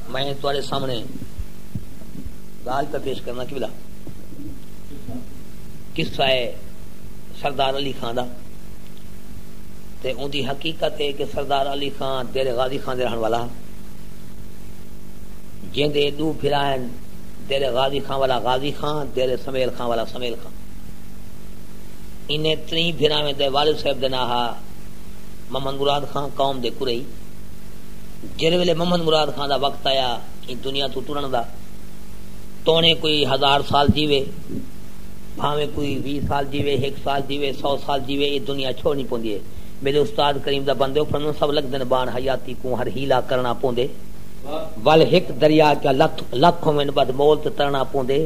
میں تھوڑے سامنے گال پہ پیش کرنا کی بلا قصہ ہے سردار علی خان دا تے ان دی حقیقت ہے کہ سردار علی خان دیر غازی خان دے رہن والا جن دے دو پھرا ہیں دیر غازی خان والا غازی خان دیر سمیل خان والا سمیل خان انہیں تری پھرا میں دے والد صاحب دے ناہا محمد مراد خاں قوم دے کرئی جیلھے ویلے محمد مراد خاں دا وقت آیا ایں دنیا توں ٹرنڑ دا تونے کوئی ہزار سال جیوے بھاویں کوئی ویہہ سال جیوے ہک سال جیوے سو سال جیوے اے دنیا چھوڑنی پوندی اے میڈے استاد کریم دا بندے اپھن نوں سب لگدن بان حیاتی کوں ہر حیلہ کرنڑا پوندے ول ہک دریا کیا لکھ لکھ ہوون بدھ مول تے ترنڑا پوندے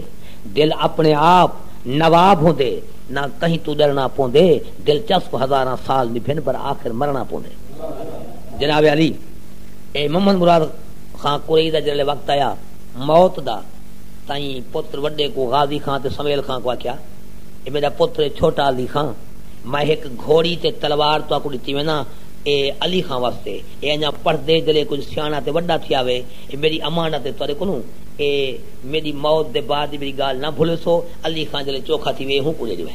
دل اپنڑے آپ نواب ہوندے نہ کہیں توں ڈرنڑا پوندے۔ دلچسپ ہزاراں سال نبھن پر آخر مرنڑاں پوندے جناب علی اے محمد مراد خاں قریئی دا جرلے وقت آیا موت دا تئیں پتر وڈے کو غازی خاں تے سمیل خاں کو آکھیا اے میڈا پتر اے چھوٹا علی خاں میں ہک گھوڑی تے تلوار تہاکوں ڈتی وینداں اے علی خاں واسطے اے انجاں پڑھدے جرلے کجھ سیانڑا تے وڈا تھیا وے اے میڈی امانت اے تہاڈے کولوں اے میڈی موت دے بعد دی میڈی گالھ نہ بھلیسو علی خاں جرلے چوکھا تھی وے اے ہوں کوں ڈے ڈیوے۔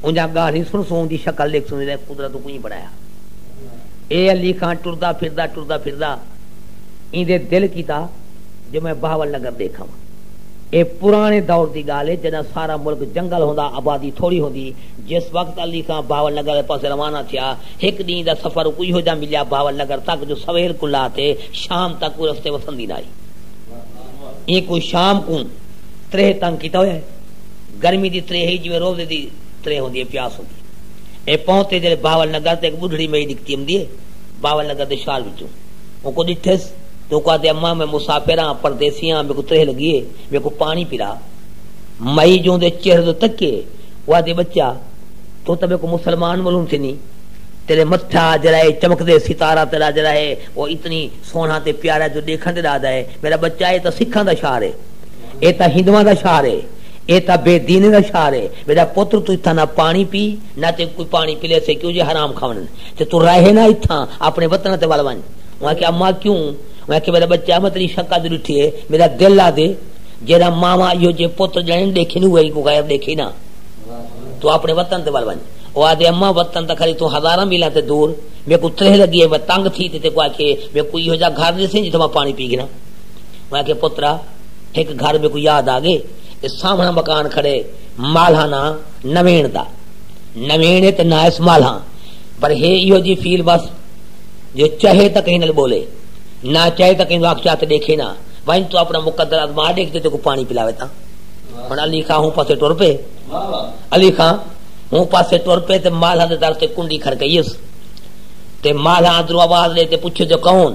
اونجھاں ڳالھیں سݨ سوں اوندی شکل ݙیکھ سوں وی لے قدرت اوں کئیں بݨایا اے علی خان ٹردا پھردا ٹردا پھردا ایندے دل کیتا جو میں بہاول نگر ݙیکھاواں اے پراݨے دور دی ڳالھ اے جݙاں سارا ملک جنگل ہوندا آبادی تھوڑی ہوندی جس وقت علی خان بہاول نگر آلے پاسے روانہ تھیا ہک ݙینہ دا سفر اکوں ایہو جہاں ملیا بہاول نگر تک جو سویل کوں لا تے شام تک کوئی رستے وسندی نہ آئی ایں کوں شام کوں تریہہ تنگ کیتا ہویا اے۔ گرمی دی ترے ہئی جیویں روزے دی ترے ہوندی ہے، پیاس ہوندی ہے۔ اے پہنچ تے جیلے بہاول نگر تے ہک بڈھڑی مئی نکتی امدی ہے، بہاول نگر دے شال وچوں اونکوں ڈٹھیس تے اونکوں آہدے اماں میں مسافر آں، پردیسی آں، میکوں ترے لگی ہے، میکوں پانی پلا۔ مئی جوں اوندے چہرے توں تکیے او آہدی بچہ توں تاں میکوں مسلمان ملوم تھینی، تیڈے متھا جیرا اے چمکدے ستارہ تیڈا جیرا ہے او اتنی سوہنڑا تے پیارا ہے جو ڈیکھن تے ڈاہدا ہے، میڈا بچہ اے تاں سکھاں دا شہر ہے۔ اے تاں ہندواں دا شہر اے۔ اے تاں بے دینیں دا شہر اے۔ میڈا پتر توں اتھاں نہ پاݨی پی نہ تیکوں کوئی پاݨی پلیسے کیوں جے حرام کھاوݨن تے توں راہے نہ اتھاں آپݨے وطن تے ول ونڄ۔ اوں آکھیا اماں کیوں؟ اوں آکھیا میڈا بچہ میں تیݙی شکل جو ݙٹھی اے میڈا دل آہدے جیڑھا ماواں ایہو جیہے پتر ڄݨن ݙیکھے نی اوہے کوں غیر ݙیکھے نہ توں آپݨے وطن تے ول ونڄ۔ او آہدے اماں وطن تاں کھری توں ہزاراں میلاں تے دور میکوں تریہہ لڳی اے میں تنگ تھی تے تیکوں آکھیے میکوں ایہو جیہا گھر ݙیسیں جتھاں میں پاݨی پی گھناں۔ میں آکھیا پترا ہک گھر میکوں یاد آ گئے اے سامھنڑاں مکان کھڑے مالھاں ناں نوینڑ دا نوینڑ اے تے ناں اس مالھاں پر ہے ایہو جی فیل بس جو چاہے تاں کہیں نال بولے نہ چاہے تاں کہیں نو اکھ چاہ تے ڈیکھے نہ ونج تو اپنا مقدر ازما ڈیکھ تے تیکو پانی پلاوے تاں ہن علی خان ہوں پاسے ٹر پے علی خان ہوں پاسے ٹر پے تے مالھاں دے در تے کنڈی کھڑکئیس تے مالھاں اندروں آواز لے تے پوچھے جو کون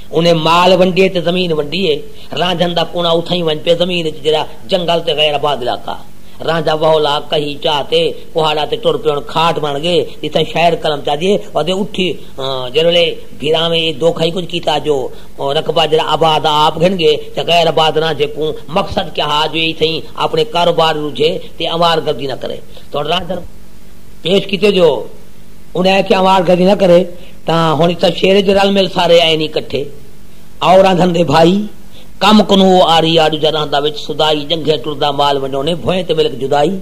انہیں مال ونڈیے تے زمین ونڈی اے۔ رانجھن دا کونا اتھائیں ونج پئے زمین اچ جیرھا جنگل تے غیر آباد علاقہ۔ رانجھا وہولا، کہی، چا تے کوہاڑا تے ٹر پئے ہن کھاٹ بن گئے جتھائیں شاعر قلم چا دیے ودے اٹھی جیرھے ویلے بھیراویں اے دوکھا ہی کجھ کیتا جو رقبہ جیرھا آباد آ آپ گھن گئے تے غیر آباد رانجھے کوں مقصد کیا ہا جو اے اتھائیں اپنے کاروبار رجھے تے آوار گردی نہ کرے تھوڑ رانجھن پیش کیتے جو انہیں آکھیا آوار گردی نہ کرے۔ تاں ہݨ اتھاں شعر اچ رل مل سارے آئے نی کٹھے اور آندھن دے بھائی کم کنوں او آری آ ݙوجھا رہندا وچ سدائی جنگھیں ٹردا مال ونڈونے بھوئیں تے ملک جدائی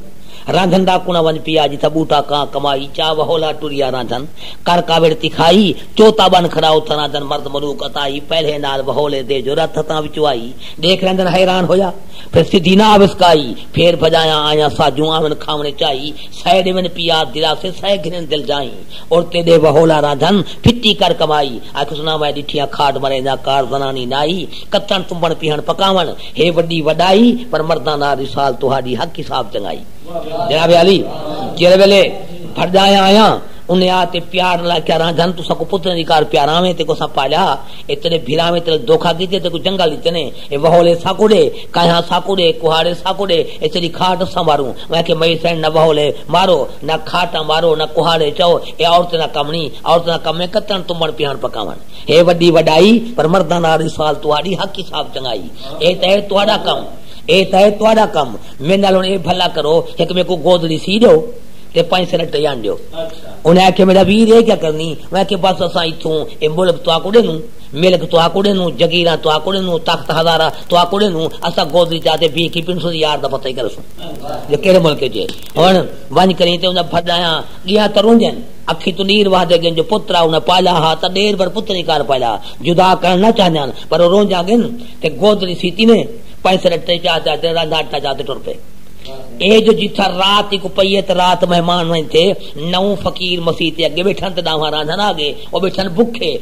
رہندھن دا کنڑاں ونج پیا جتھاں بوٹا کاں کمائی چا وہولا ٹریا رہندھن کر کاوڑ تکھائی چوتا بن کھڑا اتھاں رہندھن مرد ملوک عطائی پہلے نال وہولے دے جو رتھ ہتھاں وچوں آئی ݙیکھ رہندھن حیران ہویا پھر سدھی نہ اوسکائی پھیر بھڄایا آیاں ساجوں آون کھاوݨے چائی سئے ݙیون پیا دلاسے سئے گھنن دل جائیں عورتیں دے وہولا رادھن، پھٹی کر کمائی۔ آکھیس نہ میں ݙٹھیاں کھاڈ مریں دا کار زنانی نائی۔ کتݨ تمبݨ پیہݨ پکاوݨ ہے وݙی وݙائی پر مرداں نال وصال تہاݙی حق حساب چنگائی۔ جناب عالی جیڑھے ویلے بھرڄایا آیاں انھیں آ تے پیار نال آکھیا رادھن تساں کوں پتریں دی کار پیاراویں تے کوساں پالیا اے تیݙے بھراویں تیݙے دھوکا کیتے تے کوں جنگل ݙتے نے اے وہولے ساکوں ݙے کاہیاں ساکوں ݙے کہاڑے ساکوں ݙے اے تیݙی کھاٹ سنواروں میں آکھیا مئی سئیں نہ وہولے مارو نہ کھاٹاں مارو نہ کہاڑے چاؤ اے عورتیں دا کم نی عورتیں دا کم اے کتݨ تمبݨ پیہݨ پکاوݨ ہے وݙی وݙائی پر مرداں نال رسال تہاݙی حق حساب چنگائی اے تاں ہے تہاݙا کم اے تاں ہے تہاݙا کم میݙے نال ہݨ اے بھلا کرو ہک میکوں گودڑی سی ݙیو تے پنج سینٹ ٹئی آن ݙیو انہاں آکھیا میݙا ویر اے کیا کرنی میں آکھیا بس اساں اتھوں اے ملک تہاکوں ݙیندوں ملک تہاکوں ݙیندوں، جگیراں تہاکوں ݙیندوں، تخت ہزارہ تہاکوں ݙیندوں، اساں گودی چا تے بیہہ کے پنسوں دے یار دا پتہ ای کرسوں جو کیڑھے ملک اچ اے۔ ہݨ ونڄ کریں تے اندا پھݙ آیاں، ڳیاں تاں رونجن، اکھیں توں نیر وہدے ڳن جو پتر آ انہاں پالا ہا تاں ݙیر بھر پتر ای کر پالا، جدا کرݨ نہ چاہندیاں پر او رونجاں ڳن تے گود ݙیسی تیویں پنج سر اٹے چا تے تے رانجھا اٹا چا تے ٹر پئے۔ اے جو جتھاں رات اک پئی اے تے رات مہمان ونڄ تھئے، نو فقیر مسیت دے اڳے ٻیٹھن تے ݙانہواں رانجھا نال آ ڳئے، او ٻیٹھن بکھے،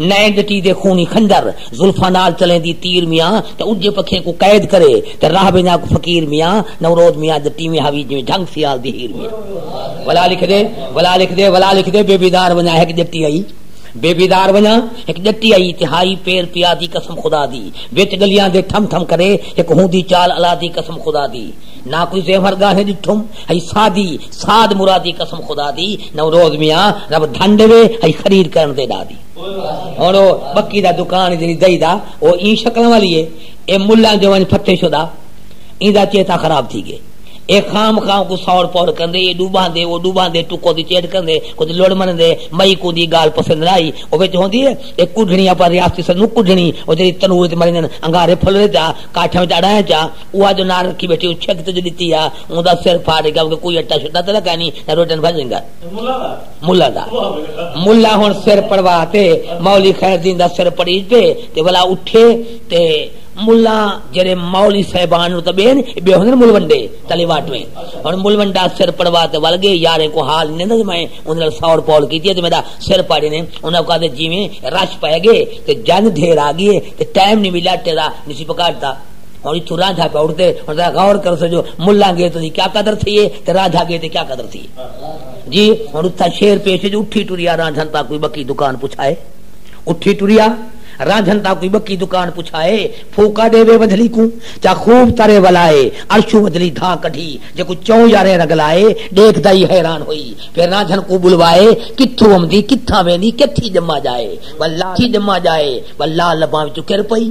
نئیں ڳٹی دے خونی خنجر زلفاں نال چلیندی تیر میاں تے اجھے پکھیں کوں قید کرے تے راہ ویندا کو فقیر میاں نوروز میاں دے ٹیویں ہا وی جویں جھنگ سیال دی ہیر میاں ولا لکھ دے ولا لکھ دے ولا لکھ دے بے بیدار ونجا ہک ڄٹی آئی بے بیدار ونجا ہک ڄٹی آئی تے ہائی پیر پیا دی قسم خدا دی وچ گلیاں دے ٹھم ٹھم کرے ہک ہوندی چال الا دی قسم خدا دی نہ کوئی زیور گاہیں ڈٹھم ہئی سادی ساد مرادی قسم خدا دی نوروز میاں رب دھن ڈیوے ہئی خرید کرن تے ڈا دی ہن او بکی دا دکان جنی دئی دا او این شکل والی ہے اے ملا جو ونج پھتے شدا ایندا چیتا خراب تھی گئے اے خام خام کو سور پور کندے اے ڈوبان دے او ڈوبان دے ٹکو دی چیٹ کندے کچھ لوڑ من دے مئی کو دی گال پسند رائی او وچ ہوندی ہے اے کڈھنی اپا ریاستی سن کڈھنی او جڑی تنور تے مرین انگارے پھل رے جا کاٹھے وچ اڑائے جا او اج نار رکھی بیٹھی او چھک تے جڑی تیا اوں دا سر پھاڑ ڈگا کیونکہ کوئی اٹا شٹا تے نہ کائنی نہ روٹی نہ بھجنگا ملا دا ملا ہن سر پڑوا تے مولی خیر دین دا سر پڑی تے تے ولا اٹھے تے ملا جڑے مولی صاحبان نو تے بین بے ہن مول ونڈے تلی واٹ میں ہن مول ونڈا سر پڑوا تے ول گئے یارے کو حال نہیں دے میں اون نال سور پول کیتی تے میرا سر پاڑی نے انہاں کہا دے جویں رش پے گئے تے جنگ ڈھیر آ گئی تے ٹائم نہیں ملا تیرا نسی پکاڑتا ہن اتھوں رانجھا پہ اٹھدے ہن ذرا غور کر سجو ملاں گے تو کیا قدر تھی ہے تے رانجھا گے تے کیا قدر تھی ہے جی ہن اتھا شیر پیش جو اٹھی ٹریا رانجھن تا کوئی بکی دکان پچھائے اٹھی ٹریا رانجھن تا کوئی بکی دکان پچھائے پھوکا دے وے ودھلی کو چا خوب ترے ولائے ارشو ودھلی دھا کڈھی جے کو چوں یارے رگلائے دیکھ دائی حیران ہوئی پھر رانجھن کو بلوائے کتھو امدی کتھا ویندی کتھی جمع جائے واللہ کتھی جمع جائے واللہ لباں وچ کر پئی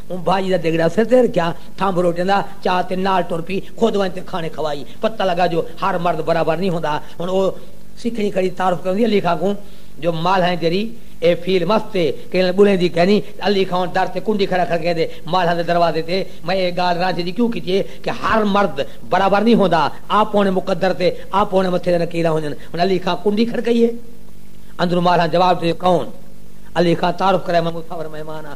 اوں بھاجی دا دگڑا سر تے رکھیا، تھمب روٹیاں دا چا تے نال ٹر پی، خود ونج تے کھانے کھوائی۔ پتہ لگا جو ہر مرد برابر نی ہوندا۔ ہن او سکھڑی کھڑی تعارف کریندی علی خاں کوں جو مالھاں اچ جیڑھی اے فیل مست اے، کہیں نال ٻلیندی کینی۔ علی خاں ہن در تے کنڈی کھڑا کھڑکیندے مالھاں دے دروازے تے، میں اے گالھ رانجھے دی کیوں کیتی اے کہ ہر مرد برابر نی ہوندا، آپونے مقدر تے آپونے متھے دے نکیراں ہوندن۔ ہن علی خاں کنڈی کھڑکائی اے۔ اندروں مالھاں جواب ݙتے کون؟ علی خاں تعارف کرائے میں مصور مہمان آں۔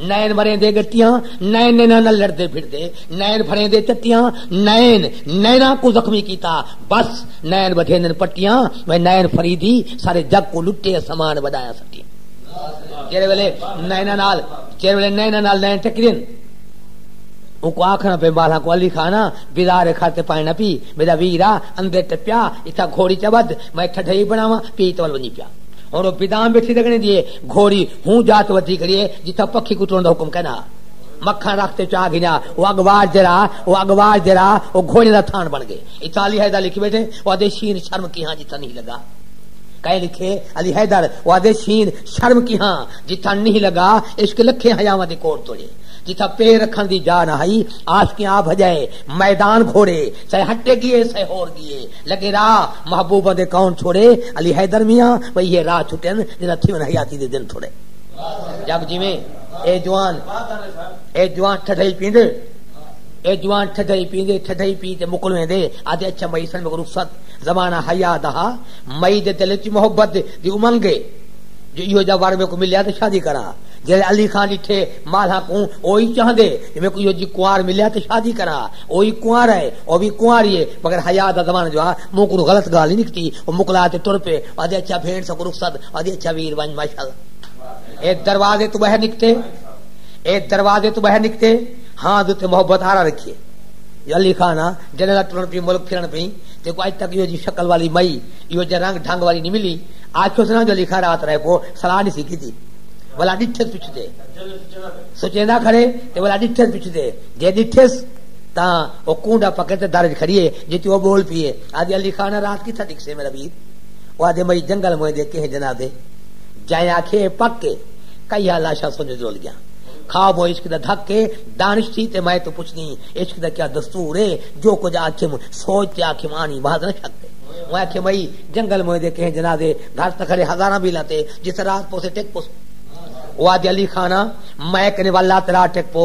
نین وریندے گٹیاں نین نینا نال لڑدے پھردے نین بھریندے چٹیاں نین نینا کو زخمی کیتا بس نین وڈھیندن پٹیاں میں نین فریدی سارے جگ کو لٹے سامان وڈایا سٹی جیرے ویلے نینا نال جیرے ویلے نینا نال نین ٹکرین ان کو آکھنا پہ بالا کو علی خانا بیدار کھاتے پائے نہ پی میرا ویرا اندے ٹپیا اتھا گھوڑی چبد میں ٹھڈھئی بناواں پی تول ونجی پیا ہن او پدام بیٹھی لگنے دی اے گھوڑی ہوں جات ودھی کھڑی اے جتھاں پکھی کوں ٹرن دا حکم کینا ہا۔ مکھن رکھ تے چا گھنیا او اگواڑ جیرا او اگواڑ جیرا او گھوڑے دا تھان بن گئے۔ اتھاں علی حیدر لکھ بیٹھے او آدھے شین شرم کیہاں جتھاں نہیں لگا۔ کئیں لکھے علی حیدر او آدھے شین شرم کیہاں جتھاں نہیں لگا عشق لکھیں حیاواں دے کوڑ توڑے جتھاں پیر رکھن دی جا نہ ہئی عاشقیں آ بھجائے میدان گھوڑے سئے ہٹے گیے سئے ہور گیے لگے راہ محبوباں دے کون چھوڑے علی حیدر میاں و ایہے راہ چھٹن جنہاں تھیون حیاتی دے دن تھوڑے جگ جیویں اے جوان اے جوان ٹھڈئی پیندے اے جوان ٹھڈئی پیندے ٹھڈئی پی تے مکل ویندے آدھے اچھا مئی سن مگر رخصت زمانہ حیا دا ہا مئی دے دل وچ محبت دی امنگ اے جو ایہو جا ور میکوں ملیا تے شادی کراں جیڑھے علی خان ڈٹھے مالھا کوں اوہی چاہندے جو میکوں ایہو جی کنوار ملیا تے شادی کراں او وی کنوارا ہے او وی کنواری ہے مگر حیا دا زمانہ جو ہا مونہہ کنوں غلط گالھ نی نکتی او مکلا تے ٹر پئے آدھے اچھا بھینڑ ساکوں رخصت آدھی اچھا ویر ونج ماشاءاللہ اے دروازے توں باہر نکتے اے دروازے توں باہر نکتے ہاں دے تے محبت آرا رکھیے یا علی خان ہاں جنے دا ٹرن پی ملک پھرن پی تے کو اج تک یو جی شکل والی مئی یو جے رنگ ڈھنگ والی نہیں ملی آکھو سنا جو علی خان رات رہے پو صلاح نہیں سی کیتی ولا ڈٹھے پچھتے سچیندا کھڑے تے ولا ڈٹھے پچھتے جے ݙٹھیس تاں او کونڈا پکڑ تے در اچ کھڑی اے جتی او ٻول پی اے آہدی علی خان آ رات کتھاں ݙکھسے میݙا ویر او آہدے مئی جنگل موئیں دے کہیں جنازے جئیں آکھے اے پک اے کئی ہا لاشاں سنج جول ڳیاں کھا بو عشق دا دھک اے دانش تھی تے مئیں توں پچھدی عشق دا کیا دستور اے جو کجھ آکھیم سوچ تے آکھیم آنی بھاز نہ شک اے میں آکھے مئی جنگل موئیں دے کہیں جنازے گھر تاں کھڑے ہزاراں بیلاں تے جتھاں رات پوسے ٹک پوسوں او آہدے علی خان آ مئیں کنے ول لا تے رات ٹک پو۔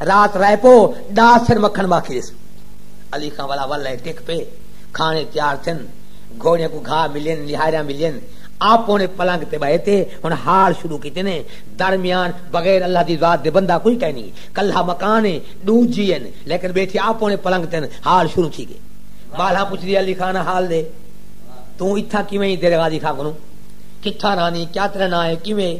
رات رہ پو ڈاہ سر مکھن باقی ریسو۔ علی خاں ولا ول ہے ٹک پے کھانے تیار تھن گھوڑیاں کو گھا ملین نہاریاں ملین آپ اونے پلنگ تے بہے تے ہن ہال شروع کیتے نے درمیان بغیر اللہ دی ذات دے بندہ کوئی کائنی کلھا مکان ہے ڈو جی ہن لیکن بیٹھے آپ اونے پلنگ تن ہال شروع تھی گئے مالہاں پوچھ دی علی خان ہال دے توں اتھا کیویں ہی تیرے غازی خان کنوں کتھا رانی کیا تیرا نا ہے کیویں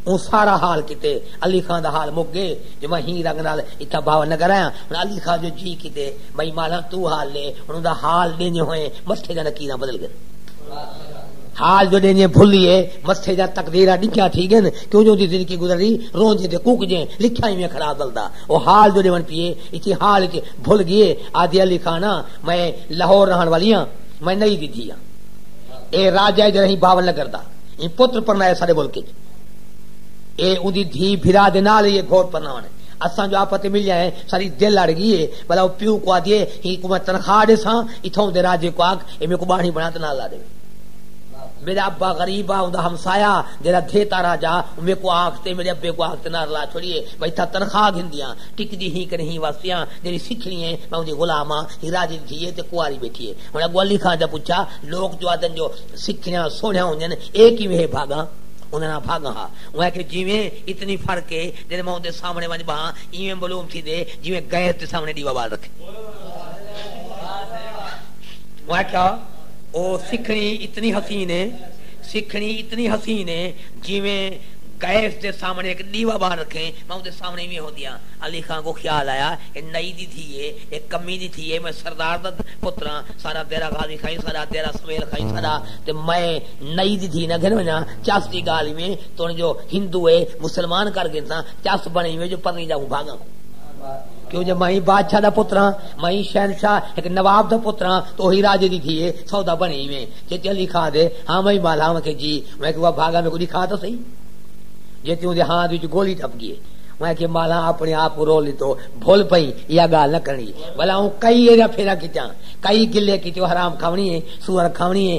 اون سارا حال کیتے علی خان دا حال مک گئے جو میں ہی رنگ نال اتھاں بھاون نگر آیاں۔ ہن علی خان جو جی کیتے بھئی مالاں توں حال ݙے۔ ہن اوندا حال ݙیندے ہوئیں مستھے دیاں لکیراں بدل ڳن۔ حال جو ݙیندے بھلیے مستھے دیاں تقدیراں ݙکھیاں تھی ڳن کیوں جو اوندی زندگی گزرری رونجیں تے کوکجیں لکھیاں ایویں خراب ولدا او حال جو ݙیوݨ پیئے اچی حال اچ بھل ڳیے آہدی علی خان آں میں لاہور رہݨ والی آں میں نئی دی دھی آں اے راجہ اج رہیں بھاون نگر دا ایں پتر پرݨائے ساݙے ملک اچ اے اوندی دھی بھرا دے نال ای اے گھوٹ پرناون اساں جو آپت ملیا اے ساڈی دل اڑ گی اے بھلا او پیو کو آدھی اے ہی کو میں تنخواہ ڈیساں اتھاؤں دے راجے کو آکھ اے میکوں باڑھی بنا تے نال لا ڈیوے میڈا ابا غریب آ اوندا ہمسایا جیڑا دھیتا راجا او میکوں آکھ تے میڈے ابے کو آکھ تے نار لا چھوڑیے میں اتھاں تنخواہ گھندیاں ٹکدی ہی کنے ہی واسیاں جیڑی سکھنی اے میں اوندی غلام آں ہی راجے دی دھی اے تے کنواری بیٹھی اے ہن اگو علی خان دا پچھا لوک جو آدھن جو سکھنیاں سوہنیاں ہوندین اے کیویں ہے بھاگاں اوندے نال بھاگاں ہا۔ اوں آکھیے جیویں اتنی فرق اے جیڑھے میں اوندے سامنے ونج بھاں ایویں ملوم تھیندے جیویں غیر دے سامنے ڈیوا بال رکھیں۔ اوں آکھیا او سکھڑی اتنی حسین اے سکھڑی اتنی حسین اے جیویں غیر دے سامنے ہک ڈیوا بال رکھیں میں اوندے سامنے ایویں ہوندیاں۔ علی خاں کوں خیال آیا اے نئی دی دھی اے اے کمی دی دھی اے میں سردار دا پتراں ساڈا دیرہ غازی خاں ساڈا دیرہ سویل خاں ساڈا تے میں نئی دی دھی نہ گھن ونجاں چس دی گالھ ایویں تون جو ہندو اے مسلمان کر گھنساں چس بنڑ ایویں جو پرنی جاہوں بھاگاں کوں کیوں جو میں بادشاہ دا پتر ہاں میں شہنشاہ ہک نواب دا پتر ہاں تو اوہی راجے دی دھی اے سودا بنڑ ایویں جے چلی کھا دے ہاں میں مالا میں کہ جی میں کہ وا بھاگا میکوں ڈکھا تاں سہی جے تیوں دے ہاں وچ گولی ٹپ گیے میں کہ مالا اپنے آپ کو رو لیتو بھول پئی یا گال نہ کرنی بھلا ہوں کئی ایرا پھیرا کیتاں کئی گلے کیتے حرام کھاونی ہے سور کھاونی ہے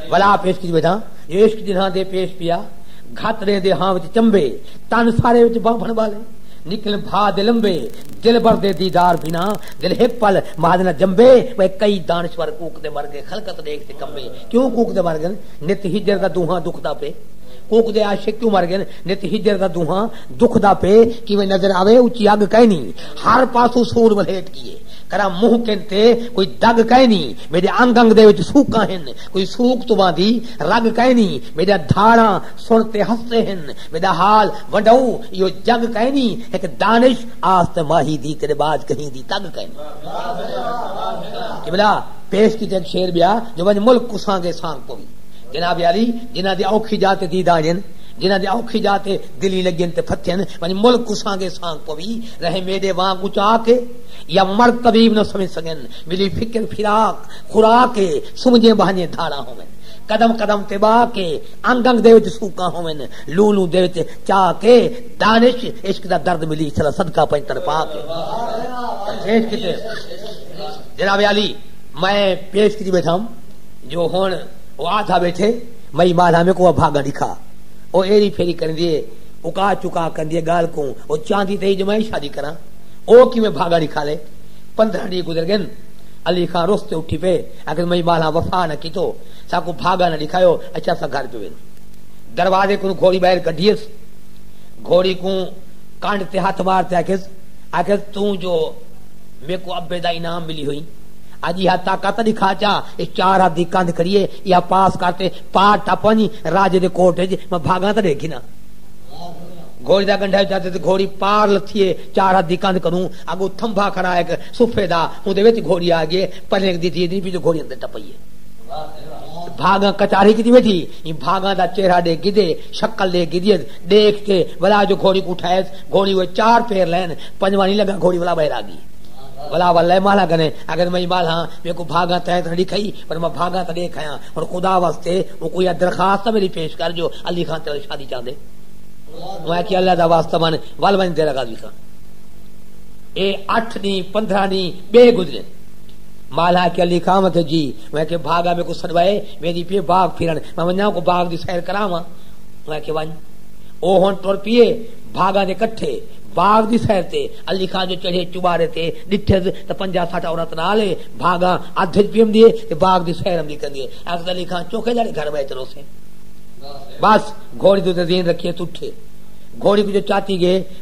ولا پیش کیتی ویدھاں جو عشق جنہاں دے پیش پیا گھت ݙیں دے ہاں وچ چمبے تن سارے وچ بانبھݨ ٻالے نکلن بھا دے لمبے دلبر دے دیدار بھنا دل ہک پل مہد نہ جمبے وے کئی دانشور کوک دے مر گئے خلقت ݙیکھ تے کمبے کیوں کوک دے مر گن نت ہجر دا دونہاں دکھ دا پے کوک دے عاشق کیوں مر گن نت ہجر دا دونہاں دکھ دا پے کیویں نظر آوے اچی اگ کائنی ہر پاسو سور ولیٹ کیے کرا منہ کن تے کوئی دگ کائنی میڈے انگ انگ دے وچ سوکاں ہن کوئی سوک تو باندھی رگ کائے نہیں میڈا دھاڑا سن تے ہستے ہن میڈا حال ونڈاؤ یو جگ کائے نہیں ایک دانش آست ماہی دی تیرے باج کہیں دی تگ کائے قبلہ پیش کی تک شیر بیا جو ونج ملک کو سانگے سانگ پوی جناب علی جنہ دی اوکھی جاتے دی دانین جنہ دے اوکھی جاتے دلی لگن تے پھتھن ونی ملک کو سانگے سانگ پوی رہے میڈے وانگ اچا کے یا مرد طبیب نہ سمجھ سکن ملی فکر فراق خوراک اے سمجھیں بہنجیں دھاڑاں ہوون قدم قدم تے باک اے انگ انگ دے وچ سوکاں ہوون لوں لوں دے وچ چاک اے دانش عشق دا درد ملی سدا صدقہ پنج تر پاک اے جناب علی میں پیش کری بیٹھا ہوں جو ہن او آدھا بیٹھے مئی مالا میں کو بھاگا دکھا او ایری پھیری کرن دیے اکا چکا کر دیے گال کو او چاندی تے جو میں شادی کراں او کی میں بھاگا دکھا لے پندرہ ڈینہہ گزر گن۔ علی خاں رس تے اٹھی پئے آکھیس مئی ٻالھاں وفا نہ کیتو ساکوں بھاگا نہ ڈکھایو اچ اساں گھر پہ ویندوں۔ دروازے کنوں گھوڑی ٻاہر کڈھیس گھوڑی کوں کنڈ تے ہتھ مار تے آکھیس آکھیس توں جو میکوں ابے دا انعام ملی ہوئی اج ایہا طاقت تاں ڈکھا چا اے چار ہتھ دی کندھ کھڑی اے ایہا پاس کر تے پار ٹپ ونج راجے دے کوٹ اچ میں بھاگاں تاں ڈیکھ گھناں۔ گھوڑی دا گنڈھا اچاتے تے گھوڑی پار لتھی اے چار ہتھ دی کندھ کنوں اڳوں تھمبھا کھڑا ہک صوفے دا اوندے وچ گھوڑی آ گئے پرینک دی دھی پچھوں گھوڑی اندر ٹپئی ہے بھاگاں کچاری کیتی بیٹھی ایں بھاگاں دا چہرہ ڈے گدے شکل ڈے گدیت ڈیکھ تے ولا جو گھوڑی کوں اٹھائیس گھوڑی ہوئے چار پھیر لین پنجواں نہیں لگا گھوڑی ولا باہر آ گئی ولا ولے مالا گنے اگر میں مالا ہاں میں کو بھاگا تین تھڑی کھئی پر میں بھاگا تڑے کھایا ہن خدا واسطے او کوئی درخواست میری پیش کر جو علی خان تیرے شادی چاندے میں کہ اللہ دا واسطہ من ول ون تیرا غازی خان اے اٹھ ڈینہ پندرہ ڈینہ بے گزرے مالا کے علی کام تھے جی میں کہ بھاگا میں کو سڑوائے میں دی پی باغ پھرن میں ونجا کو باغ دی سیر کراواں میں کہ ون او ہن ٹر پیے بھاگا دے کٹھے باغ دی سیر تے علی خان جو چڑھے چوبارے تے ڈٹھے تے پنجا ساٹھا عورت نال ہے بھاگا ادھ وچ پیم دیے تے باغ دی سیر ہم دی کر دیے اکد علی خان چوکے جڑے گھر میں چلو سے بس گھوڑی تو زین رکھیے تٹھے گھوڑی کو جو چاتی گئے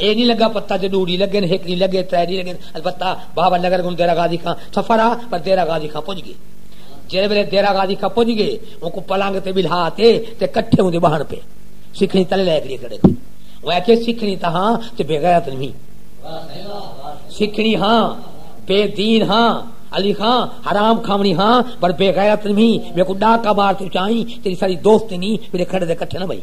اے نی لگا پتہ جو ݙو ݙینہہ لڳن، ہک ݙینہہ لڳے، ترے ݙینہہ لڳن، البتہ بابا نگر کوں دیرہ غازی خاں سفر ہا پر دیرہ غازی خاں پڄ ڳئے۔ جیڑھے ویلے دیرہ غازی خاں پڄ ڳئے اونکوں پلنگ تے ٻلھا تے تے کٹھے اوندے ٻہݨ پئے۔ سکھڑی تلے لائے کھڑی کھڑے تھے۔ اوں آکھیے سکھڑی تاں ہاں تے بے غیرت نی ہی۔ سکھڑی ہاں بے دین ہاں علی خاں حرام کھاوݨی ہاں پر بے غیرت نی ہی۔ میکوں ݙاکا مار تے اچائیں تیݙی ساری دوستی نی میݙے کھڑے دے کٹھے نہ ٻہی۔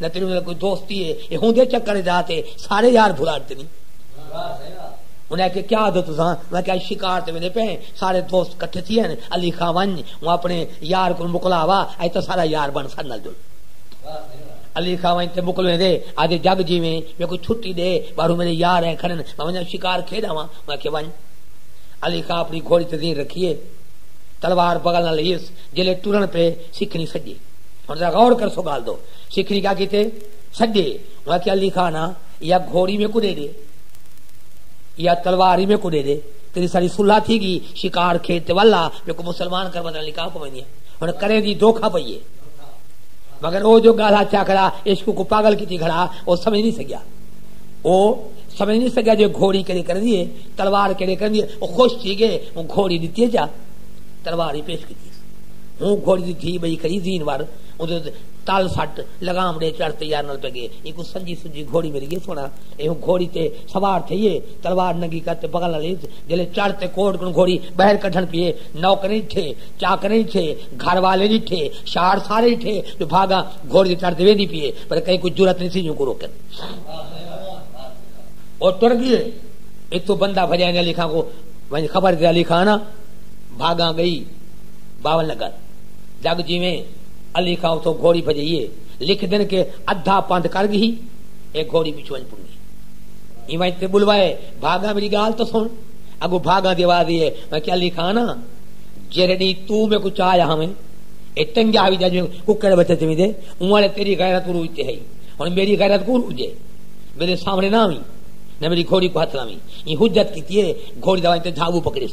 لیکن انہاں دا کوئی دوست ہی ہے اے ہوندے چکر اچ آ تے سارے یار بھلاٹ تے نی انہاں آکھیا کیا آدھو تساں میں آکھیا اج شکار تے ویندے پئے ہیں سارے دوست کٹھے تھی ہن علی خاں ونج اوں اپنے یار کوں مکلا وا اج تاں سارا یار بن ساڈے نال جل علی خاں ونج تے مکلویں دے آدھے جگ جیویں میں کوئی چھٹی دے باہروں میرے یار ہیں کھڑن میں ونجا شکار کھیڈ آواں میں آکھیا ونج علی خاں اپنی گھوڑی تے زین رکھیے تلوار بغل نال لیس جلے ٹرن پے سکھنی سجے ہن ذرا غور کرسو گال دو سکھ نکاح کیتے سڈے انہاں کیا علی خان یا گھوڑی میں کو دے دے یا تلوار ہی میں کو دے دے تیری ساری صلح تھی گی شکار کھیت تے والا میں کو مسلمان کر بدل نکاح کو ویندی ہن کرے دی دھوکا پئیے مگر او جو گالا چا کھڑا عشق کو پاگل کیتی کھڑا او سمجھ نہیں سکیا او سمجھ نہیں سکیا جو گھوڑی کیڑے کر دیے تلوار کیڑے کر دیے او خوش تھی گئے او گھوڑی دتی جا تلوار ہی پیش کیتی ہوں گھوڑی دی دھی بئی کھڑی زین ور اودے تل سٹ لگام ڈے چڑھ تیار نال پہ گئے ایکو سنجی سنجی گھوڑی مل گئی سونا اے ہوں گھوڑی تے سوار تھئیے تلوار ننگی کر تے بغل نال جلے چڑھ تے کوٹ کنوں گھوڑی بہر کڈھن پیے نوکریں ڈٹھے چاکریں ڈٹھے گھر والیں ڈٹھے شار سارے ڈٹھے جو بھاگا گھوڑی تے چڑھ تے ویندی پیے پر کہیں کو جرات نہیں سی جوں کو روکن او ٹر گئے اتو بندہ بھجائے علی خان کو ونج خبر دے علی خان بھاگاں ڳئی باول نگر جگ جیویں علی خاں اتھوں گھوڑی بھجئی اے لکھدن کہ ادھا پندھ کر ڳھی اے گھوڑی پچھوں ونڄ پنگی ایں ونڄ تے ٻلوائے بھاگاں میݙی ڳالھ تاں سݨ اڳوں بھاگاں دی آواز اے میں کہ علی خاں نا جیرھے ݙینہہ توں میکوں چا آیا ہاویں اے ٹنگیا ہئی جاں جیویں ککڑ بچے چویندے اوں آلے تیݙی غیرت عروج تے ہئی ہݨ میݙی غیرت کوں عروج اے میݙے سامݨے نہ آویں نہ میݙی گھوڑی کوں ہتھ لاویں ایں حجت کیتی اے گھوڑی دا ونڄ تے جھاوو پکڑیس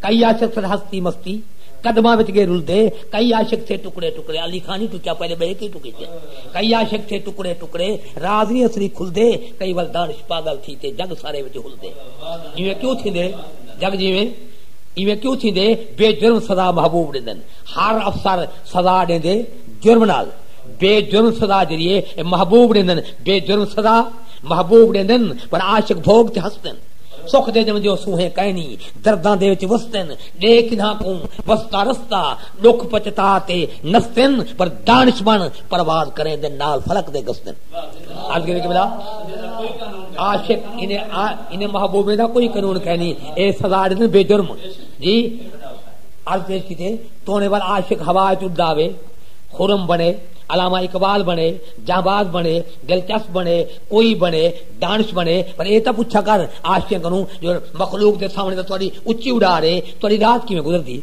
کئی عاشق سن ہستی مستی قدماں وچ گے رلدے کئی عاشق تھے ٹکڑے ٹکڑے علی خان ہی ٹکیا پہلے بہے کے ٹکے تے کئی عاشق تھے ٹکڑے ٹکڑے راز نہیں اصلی کھلدے کئی ول دانش پاگل تھی تے جگ سارے وچ ہلدے ایویں کیوں تھیندے جگ جیویں ایویں کیوں تھیندے بے جرم سزا محبوب ڈیندن ہر افسر سزا ڈیندے جرم نال بے جرم سزا جڑی اے محبوب ڈیندن بے جرم سزا محبوب ڈیندن پر عاشق بھوگ تے ہسدن سکھ دے ڄم جو سوہیں کائنی درداں دے وچ وستن ݙے کنہاں کوں وستا رستا ݙکھ پچتا تے نستن پر دانش بݨ پرواز کریں دے نال فلک دے گستن عرض کیتی کہ بلا عاشق انہیں محبوبیں دا کوئی قانون کائنی اے سزا ݙتن بے جرم جی عرض پیش کیتے تونے وال عاشق ہوا وچ اڈاوے خرم بنے علامہ اقبال بنے جہباز بنے دلچسپ بنے کوئی بنے دانش مند اے پر اے تاں پچھا کر عاشقیں کنوں جو مخلوق دے سامنے تاں تہاڈی اچی اڈار اے تہاڈی رات کیویں گزردی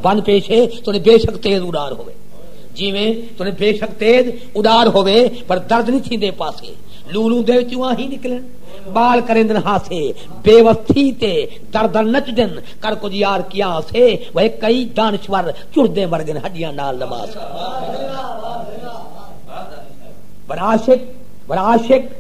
بن پیش اے تہاڈی بے شک تیز اڈار ہووے جیویں تہاڈی بے شک تیز اڈار ہووے پر درد نی تھیندے پاسے لولوں دے وچوں آہیں نکلن بال کریندن ہاسے بے وس تھی تے دردن نچ دن کر کچھ یار کیا سے وہ کئی دانشور چردے مرگن ہڈیاں نال نماز پر عاشق پر عاشق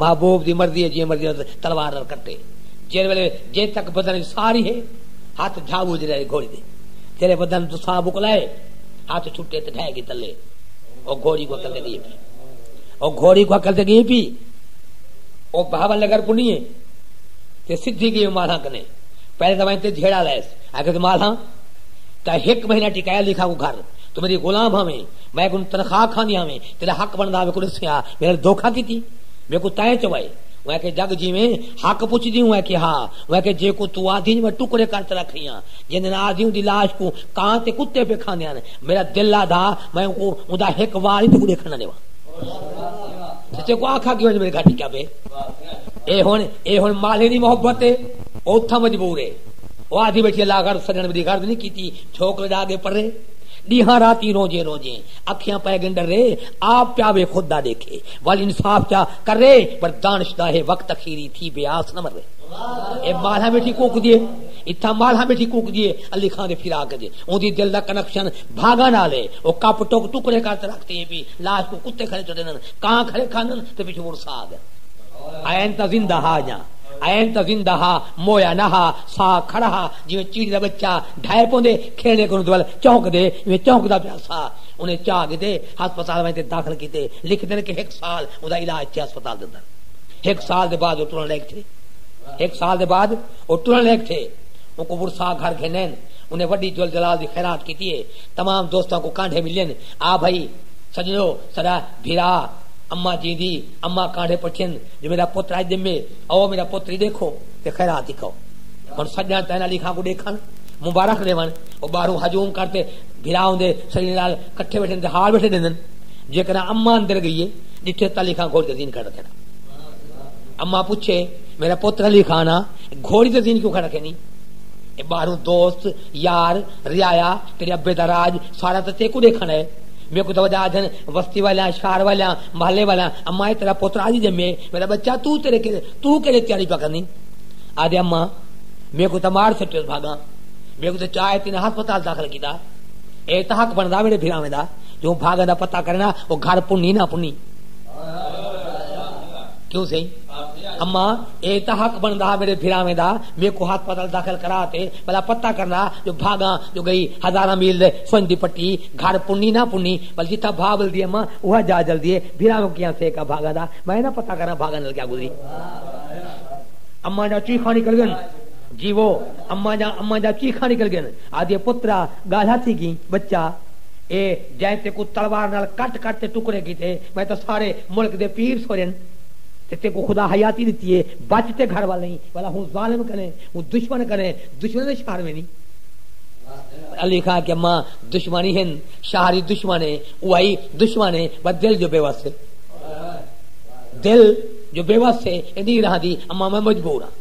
محبوب دی مرضی ہے جئیں مرضی نال تلوار نال کٹے۔ جیڑھے ویلے جئیں تک بدن وچ ساہ رہی ہے ہتھ جھاوو وچ رہے گھوڑی دے۔ جیڑھے بدن توں ساہ مکلا ہے ہتھ چھٹے تے ڈھہہ گی تلے۔ او گھوڑی کوں عقل تے گھیں پی۔ او گھوڑی کوں عقل تے گھیں پی۔ او بہاول نگر کوں نی ہے تے سدھی گئی مالھاں کنے۔ پہلے تاں وائیں تے جھیڑا لائس۔ آکھیس مالھاں تاں ہک مہینہ ٹکایا لکھاں کوں گھر۔ توں میڈی غلام ہاویں۔ میں کوں تنخواہ کھاندی ہاویں۔ تیڈا حق بندا ہاوے کوں ڈسیاں۔ پھر دھوکا کیتی میکوں تیں چوائے اوہ آکھے جگ جیویں حق پچھدی اوہ آکھے ہا اوہ آکھے جیکوں توں آدھیج میں ٹکڑے کر تے رکھ رھیاں جیندے نال آدھی اوندی لاش کوں کاں تے کتے پے کھاندے ہن میڈا دل آدھا میں اوکوں اوندا ہک وال ہی تیکوں ڈیکھن نہ ڈیواں تے تیکوں آکھا کیوں میڈے گھر ٹکیا پے اے ہن اے ہن مالے دی محبت اے او اتھاں مجبور اے او آدھی بیٹھی اللہ غرض سجن میڈی غرض نہیں کیتی چھوکرے دا اگے پرے ڈیہاں راتی روجے روجے اکھیاں پئے گن ڈرے آپ چاوے خود دا ڈیکھے ول انصاف چا کرے پر دانش دا ہے وقت اخیری تھی بے آس نہ مرے اے مالہ بیٹھی کوک دیے اتھا مالہ بیٹھی کوک دیے علی خان دے پھرا کے دے اون دی دل دا کنکشن بھاگا نالے او کپ ٹوک ٹکڑے کر تے رکھتے ہیں بھی لاش کو کتے کھڑے چڑھے نن کان کھڑے کھانن تے پیچھے مر سا گئے این تا زندہ ہا جا این تا زندہ ہا مویا نہ ہا سا کھڑا ہا جویں چیڑی دا بچہ ڈھائے پوندے کھیڑے کو دول چونک دے میں چونک دا پیا تھا۔ انہیں چاہ گھدے ہسپتال ونج تے داخل کیتے۔ لکھدن کہ ہک سال اوندا علاج تھیا ہسپتال دے اندر۔ ہک سال دے بعد او ٹرن لیگ تھے۔ ہک سال دے بعد او ٹرن لیگ تھے۔ اونکوں ورثاء گھر گھنین۔ انہیں وڈی جل جلال دی خیرات کیتی اے۔ تمام دوستاں کوں کانڈھے ملین۔ آ بھئی سجنڑو ساڈا بھرا اماں جیندی اماں کانڈھے پٹھین جو میڈا پتر اج جمے۔ آؤ میڈا پتر ای ڈیکھو تے خیرات ای کھاؤ۔ ہن سجنڑ تینالی خاں کوں ڈیکھن مبارخ ڈیون او باہروں ہجوم کر تے۔ بھرا اوندے سنگیں نال کٹھے ویٹھن تے ہال ویٹھے ڈیندن۔ جیکرا اماں اندر گئیے ڈٹھے تاں علی خان گھوڑی تے زین کھڑ رکھے نا۔ اماں پچھے میرا پتر علی خان آ گھوڑی تے زین کیوں کھڑ رکھے نی۔ اے باہروں دوست، یار، رعایا، تیڈے ابے دا راج سارا تاں تیکوں ڈیکھن اے۔ میکوں تاں وڈا آدھن وستی والیاں، شہر والیاں، محلے والیاں اماں اے تیڈا پتر آج جمے میڈا بچہ توں تیڈے توں کیڈے تیاری پیا کرنی۔ آدھے اماں میکوں تاں مار سٹیو بھاگاں۔ میکوں تے چا ہے تینا ہسپتال داخل کیتا اے تا حق بندا میرے بھراویں دا جو بھاگا دا پتہ کرنا او گھر پنی نہ پنی کیوں سہی اما اے تا حق بندا میرے بھراویں دا میکوں ہسپتال داخل کرا تے بلا پتہ کرنا جو بھاگا جو گئی ہزاراں میل دے سنج دی پٹی گھر پنی نہ پنی بل جتھا بھا بل دی اما اوہ جا جل دیے بھراویں کیاں سے کا بھاگا دا میں نہ پتہ کرا بھاگا نال کیا گزری اما دا چیخا نکل گن جیوو، اماں جاں اماں جاں چیخاں نکل گئن، آہدیے پترا ڳالھا تھی گی، ٻچہ اے جئیں تیکوں تلوار نال کٹ کٹ تے ٹکڑے کیتے، میں تاں سارے ملک دے پیر سورین تے تیکوں خدا حیاتی ݙتی اے، بچ تے گھر ول ایں، ولا ہوں ظالم کنیں، ہوں دشمن کنیں، دشمناں دے شہر ویندیں۔ علی خاں آکھیا ماں دشمن ای ہن، شہر ای دشمن اے، اوہائی دشمن اے، بس دل جو بے وس اے، دل جو بے وس اے، ایندی ای رہندی، اماں میں مجبور آں۔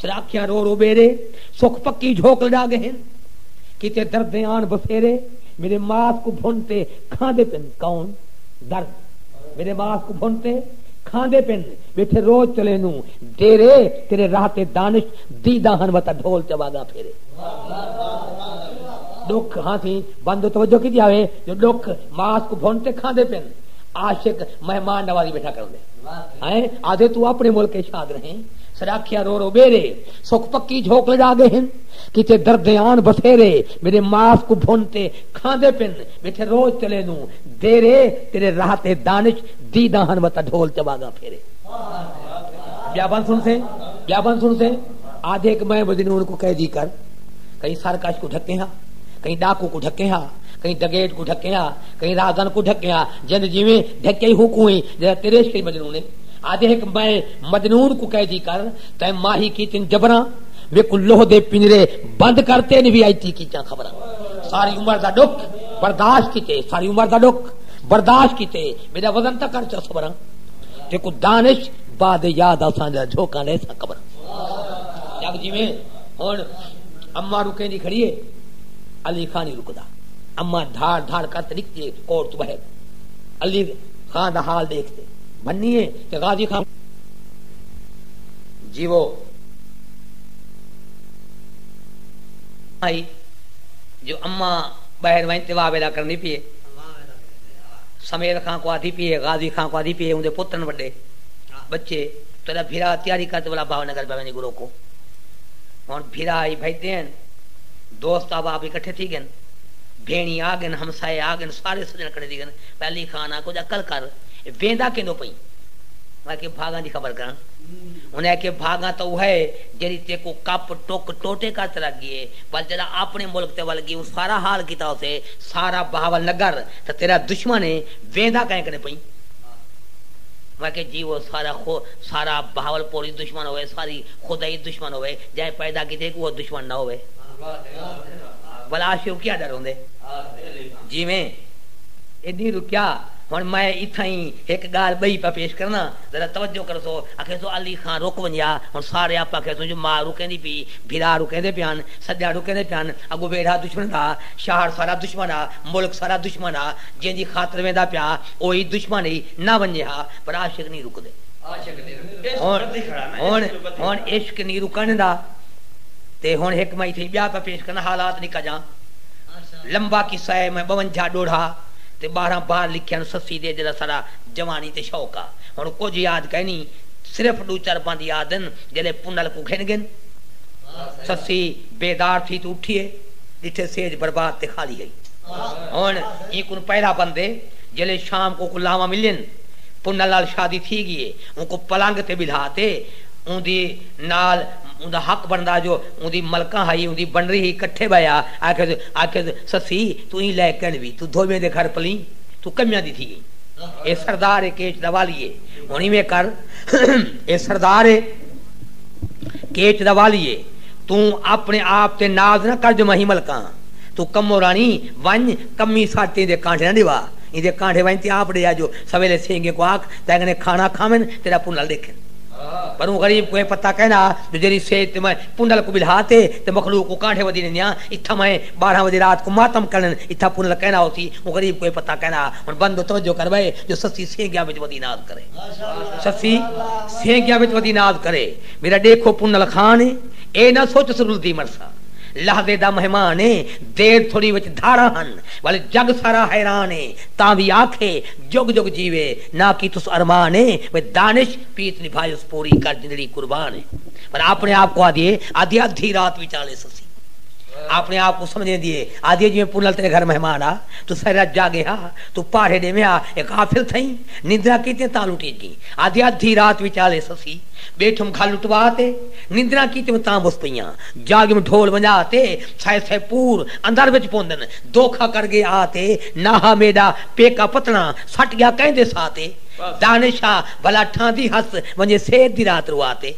تیرا اکھیاں رو رو ٻیرے سکھ پکی جھوک لڈا گئے ہن کیتے دردیں آن بسیرے میݙے ماس کوں بھن تے کھاندے پن کون درد میݙے ماس کوں بھن تے کھاندے پن بیٹھے روز چلے نو ڈیرے تیرے راہ تے دانش دیدا ہن وتا ڈھول تے واگا پھیرے ڈکھ ہاں تھی بندو توجہ کی جاوے جو ڈکھ ماس کو بھن تے کھاندے پن عاشق مہمان نوازی بیٹھا کر دے ہیں آدھے تو اپنے ملک شاد رہیں سراکھیا رو رو ٻیرے سکھ پکی جھوک لجا گئے ہن کیتے دردیان بسیرے میݙے ماس کوں بھن تے کھاندے پن ٻیٹھے روز چلے نوں دیرے تیݙے راہ تے دانش دیداں ہن وتا ڈھول تے واگاں پھیرے۔ ٻیا بند سݨ سیں ٻیا بند سݨ سیں آدھے کہ میں مجنون کوں قیدی کر کہیں سرکش کوں ڈھکیں ہا کہیں ڈاکو کوں ڈھکیں ہا کہیں ڈگیٹ کوں ڈھکیں ہا کہیں راہگن کوں ڈھکیں ہا جند جیویں ڈھکئی ہو کوں ہی جیڑھا تیرے عشق اچ مجنون ہے آدھے ہک میں مجنون کوں قیدی کر تیں ماہی کیتن جبراں ویکوں لوہ دے پنجرے بند کر تین وی آئی تی کیتیاں خبراں ساری عمر دا ڈک برداشت کیتے ساری عمر دا ڈک برداشت کیتے میرا وزن تک کر چا صبراں تے کو دانش بعد یاد اساں دا جھوکا لے سا قبر جب جویں ہن اما رکے دی کھڑی ہے علی خان ہی رکدا اما دھاڑ دھاڑ کر تے نکتی کوٹ تو بہر علی خان دا حال دیکھتے بھنی اے تے غازی خان جیوو آئی جو اماں ٻہر ونڄ تے واہ ویلا کرݨی پی اے سمیل خان کوں آدھی پی اے غازی خان کوں آدھی پی اے اوندے پتر ہن وݙے ٻچے تیݙا بھرا تیاری کر تے ولا بھاو نگر پیا ویندے گرو کوں ہݨ بھرا آئی بھڄدے ہن دوست احباب وی کٹھے تھی ڳن بھیݨی آ ڳن ہمسائے آ ڳن سارے سڄݨ کٹھے تھی ڳن پہلی خان آ کجھ عقل کر ویندا کیندوں پئی؟ میں آکھیے بھاگاں دی خبر کراں۔ انہیں آکھیے بھاگاں تاں اوہا ہے جیڑھی تیکوں کپ ٹک ٹوٹے کر تے رکھ گیے پر جیڑھا آپنے ملک تے ول گی اوں سارا حال کیتا ہوسے سارا بہاول نگر تاں تیرا دشمن ہے ویندا کائیں کنے پئی؟ میں آکھیے جی او سارا خو سارا بہاول پور ای دشمن ہووے ساری خدا ای دشمن ہووے جئیں پیدا کیتے ہک اوہا دشمن نہ ہووے بھلا آشیو کیا ڈر ہوندے جیویں ایڈی رکیا ہݨ میں اتھائیں ہک ڳالھ ٻئی پیا پیش کرناں، ذرا توجہ کرسو، آکھیسو علی خاں رک ونڄا، ہݨ سارے آپ آکھیسوں جو ماء رکیندی پئی، بھرا رکیندے پئے ہن، سڄݨ رکیندے پئے ہن، اڳوں ویڑھا دشمݨ دا، شہر سارا دشمݨ ہا، ملک سارا دشمݨ ہا، جیندی خاطر ویندا پیا او ای دشمݨ ہئی، نہ ونڄے ہا، پر عاشق نی رکدے۔ ہݨ ہݨ عشق نی رکݨدا تے ہݨ ہک میں اتھائیں ٻیا پیا پیش کرناں، حالات نکا جاں لمبا قصہ ہے، میں ٻونجھا ݙوڑھا، تے ٻارہاں بار لکھیاں سسی دے جیڑھا ساڈا جوانی تے شوق آ ہن کجھ یاد کائنی صرف ڈو چار بند یاد ہن جیڑھے پنل کوں گھن گھن سسی بیدار تھی تے اٹھیے ڈٹھے سیج برباد تے خالی ہئی ہن ایں کوں پہلا بند اے جیڑھے شام کوں کوں لاواں ملین پنل نال شادی تھی گی اے اوں کوں پلنگ تے بلھا تے اوندی نال اوندا حق بندا جو اوندی ملکہ ہئی اوندی بنری ہئی کٹھے بہیا آکھیس آکھیس سسی تئیں لے کن وی توں دھوویں دے گھر پلیں توں کمیاں دی تھی گئیں اے سردار اے کیچ دا والی اے ہن ایویں کر اے سردار اے کیچ دا والی اے توں اپنے آپ تے ناز نہ کر جو میں ہی ملکاں توں کمو رانی ونج کمی ساڈ تئیں دے کانڈھے نہ ڈیوا ایندے کانڈھے ونج تیں آپ ڈیا جو سویلے سینگیں کو آکھ تینگنے کھانا کھاون تیڈا پنڈل ڈیکھن پر اوں غریب کو اے پتہ کینا جو جیڈی سیج تے میں پنڈل کو بلھا تے تے مخلوق کو کانڈھے ودی ڈیندیاں اتھاں میں ٻارہاں وجے رات کوں ماتم کرݨ اتھاں پورݨ دا کہݨا ہوسی اوں غریب کوں اے پتہ کائنا ہا ہݨ بندو توجہ کر وے جو سسی سینگیاں وچ ودی ناز کرے سسی سینگیاں وچ ودی ناز کرے میݙا ݙیکھو پونل خان اے اے نہ سوچس رلدی مرساں لحظے دا مہمان اے دیر تھوڑی وچ دھاڑاں ہن ولے جڳ سارا حیران اے تاں وی آکھے جڳ جڳ جیوے نہ کیتس ارمان اے وے دانش پیت نبھائیس پوری کر جندڑی قربان اے ولے آپݨے آپ کوں آدھیے آدھیے ادھی رات وچالے سسی آپݨے آپ کوں سمجھیندی ہے۔ آہدی ہے جیویں پلل تیݙے گھر مہمان آ توں سحر اچ جاڳیں ہا توں پاڑھے ݙیویں ہا اے غافل تھئیں نندراں کیتیاں تاں لٹی ڳئیں آہدی ہے ادھی رات وچالے سسی ٻیٹھم گھل لٹوا تے نندراں کیتیوں تاں بھس پئیاں جاڳیم ڈھول ونڄا تے سائے سائے پور اندر وچ پوندن دوکھا کر ڳئے آ تے ناہا میݙا پیکا پتݨا سٹ ڳیا کئیں دے ساہ تے دانش آ بھلا ٹھاندی ہس ونڄے سحر دی رات روا تے۔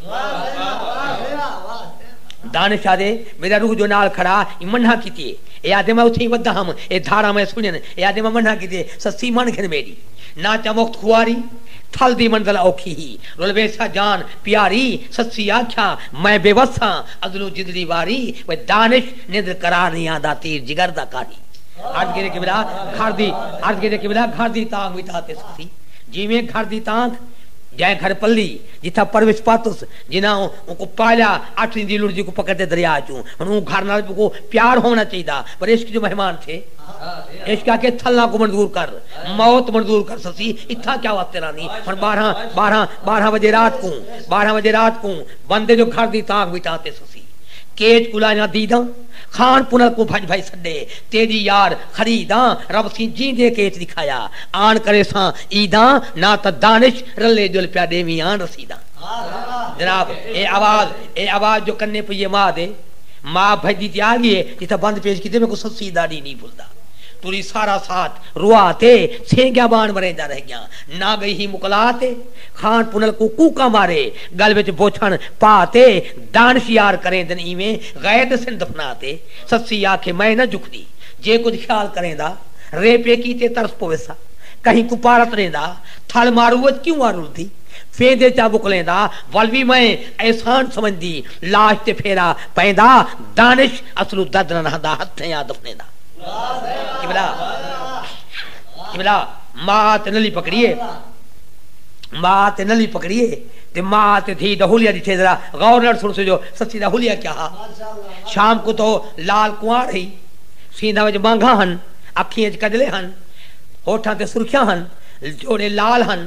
دانش آہدے میݙا روح جو نال کھڑا ایں منھاں کیتی اے اے آہدے میں اتھیں ودا ہم اے دھاراں میں سݨین اے آہدے میں منھاں کیتی اے سستی من گھن میݙی ناں چا وخت خواری ٹھل دی منزل اوکھی ہی رل ویسا جان پیاری سستی آکھیا میں بے وس ہاں ازلوں جندڑی واری وے دانش نندر قرار نئیں آندا تیر جگر دا کاری عرض کیتے قبلہ گھر دی عرض کیتے قبلہ گھر دی تانگھ وی تاں تے سستی جیویں گھر دی تانگھ جئیں گھر پلی جتھاں پروش پاتس جنہاں اونکوں پالیا، اٹھ ݙینھ دی لڑزی کوں پکڑتے دریا چوں۔ ہݨ اوں گھر نال اونکوں پیار ہووݨا چاہیدا، پر عشق جو مہمان تھے۔ عشق آکھے تھلاں کوں منظور کر، موت منظور کر سسی، اتھاں کیا واسطے رہندیں۔ ہݨ ٻارہاں، ٻارہاں، ٻارہاں وڄے رات کوں، ٻارہاں وڄے رات کوں، بندے جو گھر دی تاک وچ آتے سسی۔ کیچ کوں لائیاں دیداں، خان پنر کوں بھڄ بھڄ سݙے، تیݙی یار خریداں، رب سیں جیندے کیچ ݙکھایا، آن کریساں عیداں، ناں تاں دانش رلے ڄل پیا ݙیویں آن رسیداں۔ جناب! اے آواز، اے آواز جو کنے پئیے ماء دے، ماء بھڄدی تے آ گی ہے جتھاں بند پیش کیتے میکوں سسی ݙاݙی نی بھلدا تری سارا ساتھ روا تے سینگیاں بان مریندا رہ گیاں نہ گئی ہی مکلا تے کھان پنل کوں کوکاں مارے ڳل وچ بوچھݨ پا تے دانش یار کریندن ایویں غیر ݙسن دفنا تے سسی آکھے میں نہ جھکدی جے کجھ خیال کریندا رے پیکی تے ترس پویسا کہیں کوں پارت ݙیندا تھل مارو وچ کیوں آ رلدی ویندے جاں وکلیں دا ول وی میں احسان سمجھدی لاش تے پھیرا پیندا دانش اصلوں درد نہ رہندا ہتھیں آ دفنیندا قبلہ قبلہ ماء تے نلی پکڑیے ماء تے نلی پکڑیے تے ماء تے دھی دا حلیہ ڈٹھے ذرا غور نال سنسو جو سسی دا حلیہ کیا ہا شام کوں تاں او لال کنوار ہئی سیندھاں وچ مانگھاں ہن اکھیں وچ کجلے ہن ہوٹھاں تے سرخیاں ہن جوڑے لال ہن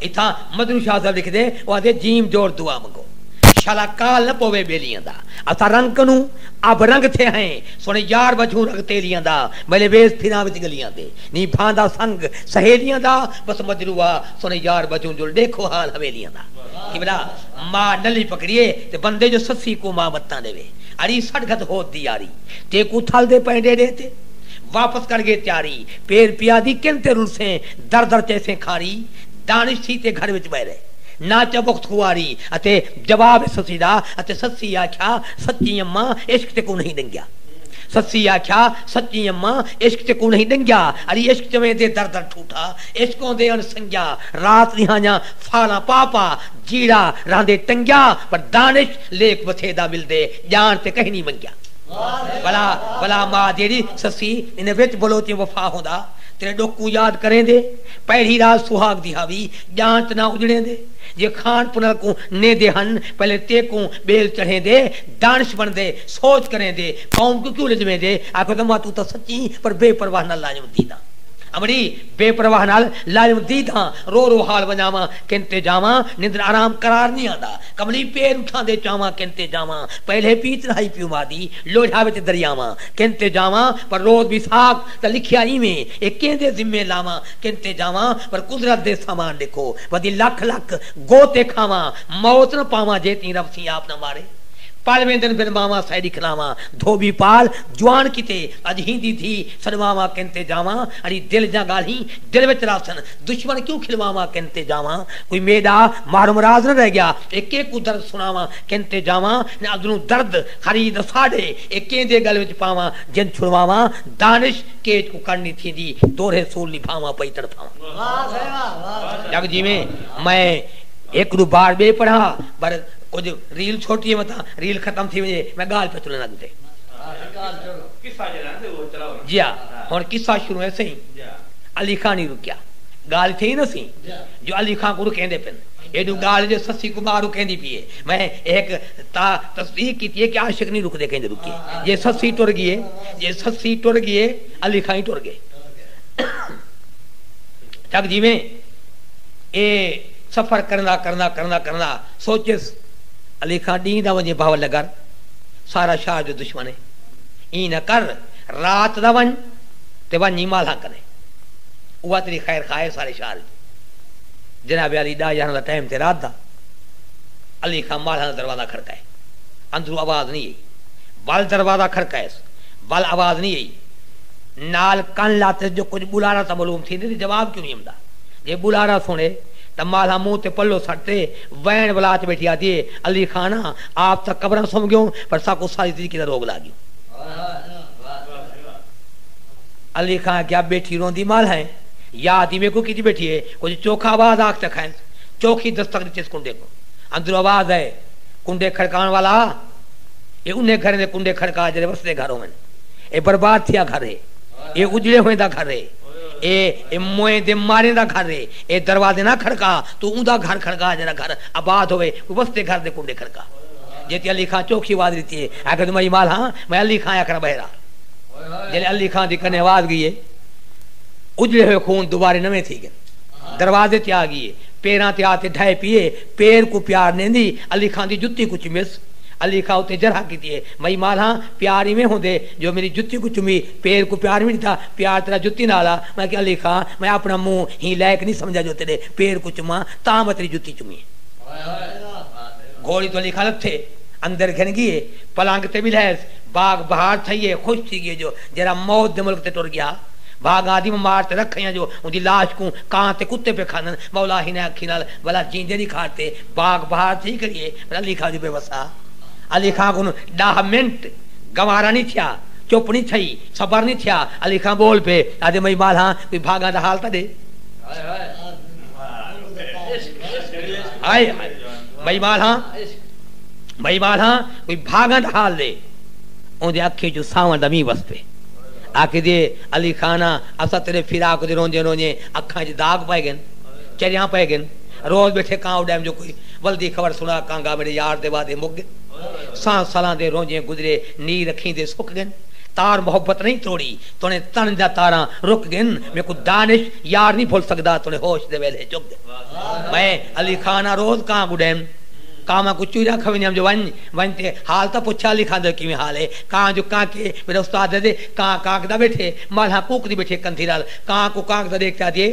اتھاں مدنی شاہ صاحب لکھدے او آہدے جیم جوڑ دعا منگو شالا کال نہ پووے بیلیاں دا اساں رنگ کنوں اب رنگ تھے ہیں سونے یار وجھوں رگ تیلیاں دا میلے ویس پھراں وچ گلیاں دے نی بھاندا سنگ سہیلیاں دا بس مجروح ہا سونے یار وجھوں جل ڈیکھو حال حویلیاں دا قبلہ ما نلی پکڑیے تے بندے جو سسی کوں ما متاں ڈیوے اڑی سٹ گھت ہود دی یاری تیکوں تھل دے پئیں ڈیڈے تے واپس کر گے تیاری پیر پیا دی کن تے رلسیں در در چیسیں کھاری، دانش تھی تے گھر وچ ٻہہ رہے۔ ناں چا بخت خواری اتے جواب ہے سسی دا اتے سسی آکھیا سچی اماں عشق تیکوں نہیں ݙنگیا۔ سسی آکھیا سچی اماں عشق تیکوں نہیں ݙنگیا اڑی عشق چویں دے در در ٹھوٹھا عشق اوندے اݨ سنگیا رات ݙیہانیاں فالاں پا پا جیڑھا رہندے ٹنگیا پر دانش لیک وتھے دا ملدے ڄاݨ تے کہیں نہیں منگیا۔ بھلا بھلا ماء جیڑھی سسی انہیں وچ بلوچیں وفا ہوندا۔ تیݙے ݙکھ کوں یاد کریندے۔ پہلی رات سہاڳ دی ہاوی ڄانت نہ اڄڑیندے۔ جے کھاݨ پنر کوں نیندے ہن پہلے تیکوں ٻیل چڑھیندے۔ دانش بݨدے سوچ کریندے قوم کوں کیوں لڄویندے۔ آکھو تاں ماں توں تاں سچیں پر بے پرواہ نال لاجم دیداں۔ امڑی بے پرواہ نال لاجم دیداں رو رو حال ونڄاواں کن تے جاواں نندر آرام قرار نی آندا کملی پیر اٹھاندے چاواں کن تے جاواں پہلے پی تنہائی پیو ماء دی لوجھا وچ دریاواں کن تے جاواں پر روز وی ساکھ تاں لکھیا ایویں اے کیندے ذمے لاواں کن تے جاواں پر قدرت دے سامان ݙیکھو ودی لکھ لکھ گو تے کھاواں موت نہ پاواں جے تیں رب سیں آپ نہ مارے پل ویندن بن ماواں سئے ݙکھلاواں دھوٻی پال جوان کیتے اڄ ہیندی دھی سݙواواں کن تے جاواں اڑی دل دیاں ڳالھیں دل وچ رہسن دشمن کیوں کھلواواں کن تے جاواں کوئی میݙا محروم راز نہ رہ ڳیا اے کے کوں درد سݨاواں کن تے جاواں نہ اندروں درد خرید ساݙے اے کیندے ڳل وچ پاواں جن چھڑواواں دانش کیج کوں کݨ نی تھیندی دورھے سول نبھاواں پئی تڑپھاواں جگ جیویں میں ہک ݙو بار ٻئے پڑھا پر کجھ ریل چھوٹی متاں ریل ختم تھی ونڄے میں ڳالھ پیا تلݨ اڳ تے جیا ہݨ قصہ شروع ہے سئیں علی خاں نی رکیا ڳالھ تھئی نہ سئیں جو علی خاں کوں رکیندے پن ایݙوں ڳالھ جو سسی کوں ٻاہر رکیندی پی ہے میں ہک تا تصدیق کیتی ہے کہ عاشق نی رکدے کیندے رکیے جے سسی ٹر ڳیے جے سسی ٹر ڳیے علی خاں ہی ٹر ڳئے جگ جیویں اے سفر کرندا کرندا کرندا کرندا سوچیس علی خاں ݙینہہ دا ونڄے بہاول نگر سارا شاہ جو دشمن اے ایں نہ کر رات دا ونڄ تے ونڄ ہی مالہاں کنیں اوہا تیݙی خیر خواہ اے سارے شاہ دی جناب علی ݙاہ یارھاں دا ٹائم تے رات دا علی خاں مالہاں دا دروازہ کھڑکائے اندروں آواز نی ائی ول دروازہ کھڑکائس۔ ول آواز نی ائی۔ نال کن لاتس جو کجھ ٻلارا تاں معلوم تھیندے تے جواب کیوں نی امدا۔ جے ٻلارا سݨے تاں مالھا منہ تے پلو سٹ تے وین ولا تے ٻیٹھی آہدی اے علی خان آں آپ تاں قبراں سم ڳیوں پر ساکوں ساری طریقے دا روگ لاڳیوں۔ علی خان آکھیا ٻیٹھی روندی مالھا اے یا آہدی میکوں کیتی ٻیٹھی اے کجھ چوکھا آواز آکھ چکھائس۔ چوکھی دستک ݙتس کنڈے کوں۔ اندروں آواز اے کنڈے کھڑکاوݨ والا۔ اے انھیں گھریں دے کنڈے کھڑکا جیڑھے وسدے گھر ہوون۔ اے برباد تھیا گھر ہے۔ اے اجڑے ہوئیں دا گھر ہے۔ اے موئیں دے ماریں دا گھر ہے۔ اے دروازے نہ کھڑکا، توں اوندا گھر کھڑکا جیڑھا گھر آباد ہووے، کوئی وسدے گھر دے کنڈے کھڑکا۔ جیتے علی خاں چوکھی آواز ڈتی ہے، آکھیا توں میں ایمال ہاں، میں علی خاں آکھنا بہرا۔ جیلے علی خاں دی کنے آواز گئی ہے، اجڑے ہوئے خون دوبارے نویں تھی گن۔ دروازے تے آ گئی ہے، پیراں تے آ تے ڈھائے پی ہے۔ پیر کوں پیار ݙیندی علی خاں دی جتی کوں چمیس علی خاں اتے جرح کیتی اے مئی مالہاں پیار ایویں ہوندے جو میݙی جتی کوں چمی پیر کوں پیار وی ݙتا پیار تیݙا جتی نال آ میں کیا علی خاں میں اپݨا منہ ہی لائق نی سمجھا جو تیݙے پیر کوں چماں تاں میں تیݙی جتی چمی گھوڑی توں علی خاں لتھے اندر گھن ڳیے پلنگ تے ٻلہیس بھاڳ بہار تھئی اے خوش تھی ڳیے جو جیرھا موت دے ملک تے ٹر ڳیا بھاڳ آدم مار تے رکھ آئیاں جو اوندی لاش کوں کاں تے کتے پئے کھاندن مولا ہنیں اکھیں نال ولا جیندے دی کھاٹ تے باغ بہار تھی کریے پر علی خاں دی بے وسا علی خاں کوں ڈاہ منٹ گوارا نی تھیا چپ نی تھئی صبر نی تھیا علی خاں بول پے آدھے مئی مال ہاں کوئی بھاگاں دا حال تاں ڈے ہائے ہائے مئی مال ہاں مئی مال ہاں کوئی بھاگاں دا حال دے اون دے اکھیں چوں ساون دا مینہ وس پے آکھدے علی خاں نا اساں تیرے فراق دے روندے روندے اکھاں چ داغ پائے گن چریاں پئے گن روز بیٹھے کاں اڈیم جو کوئی ولدی خبر سنا کانگا میڈے یار دے وعدے مک گن ساں سالاں دے رونجیں گزرے نی رکھیں دے سک گن تار محبت نہیں تروڑی تونے تن دا تاراں رک گن میکوں دانش یار نہیں بھل سکدا تونے ہوش دے ویلھے چک گن میں علی خان آں روز کاں گڈیم کاواں کوں چوریاں کھویندیم جو ونج ونج تے حال تاں پچھ علی خان دے کیویں حال ہے کاں جو کانکے میڈا استاد دے کاں کانکدا بیٹھے مالھاں کوکدی بیٹھے کندھی نال کاں کوں کانکدا ڈیکھ تے آدھی ہے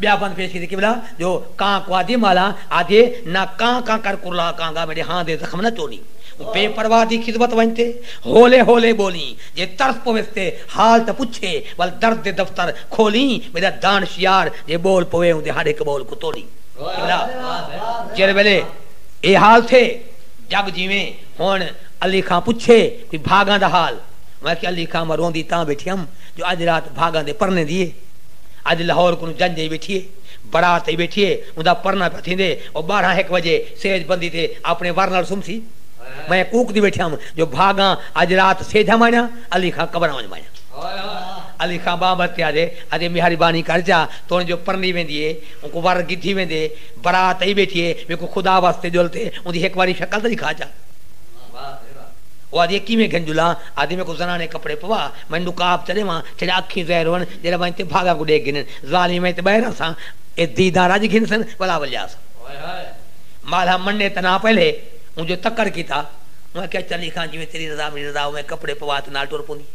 ٻیا پنت پیش کیتے قبلہ جو کاں کوادھی مالاں آدھیے نہ کاں کاں کر کرلا کاں گا میڈے ہاں دے زخم نہ چونی او بے پرواہ دی خدمت ونج تے ہولے ہولے بولیں جے ترس پویس تے حال تاں پچھے ول درد دے دفتر کھولیں میڈا دانش یار جے بول پوے اوندے ہر ہک بول کوں تولیں قبلہ جیڑھے ویلے اے حال تھے جگ جیویں ہن علی خاں پچھے کوئی بھاگاں دا حال میں آکھیا علی خاں میں روندی تاں بیٹھی ہم جو اج رات بھاگاں دے پرنے دی اے اڄ لہور کنوں جنج ای ویٹھی اے، بڑات ای ویٹھی اے، اوندا پرنہ پیا تھیندے، او ٻارہاں ہک وجے سیج بندی تے آپݨے ور نال سمسی۔ میں کوکدی ویٹھیام جو بھاڳاں اڄ رات سیجھا مانیاں، علی خاں قبراں ونڄ مانیاں۔ علی خاں ٻانہہ ورتے آہدے، آہدے میہاری بانی کر چا توݨ جو پرنی ویندی اے، اونکوں ور گدھی ویندے، بڑات ای ویٹھی اے، میکوں خدا واسطے ڄل تے اوندی ہک واری شکل تاں ݙکھا چا۔ او آہدی اے کیویں گھن ڄلاں، آہدی میکوں زنانے کپڑے پوا، میں نقاب چا ݙیواں، چھڄا اکھیں ظاہر ہوون، جیڑھے ونج تے بھاگاں کوں ڈیکھ گھنن۔ ظالم ونج تے بہہ رہساں۔ اے دیداں رج گھنسن ولا ولیاساں۔ مالہا منڈے تناں پہلے اوں جو تکڑ کیتا۔ اوں آکھیا چلی خاں جیویں تیری رضا میڈی رضا اوویں کپڑے پوا تے نال ٹر پوندی اے۔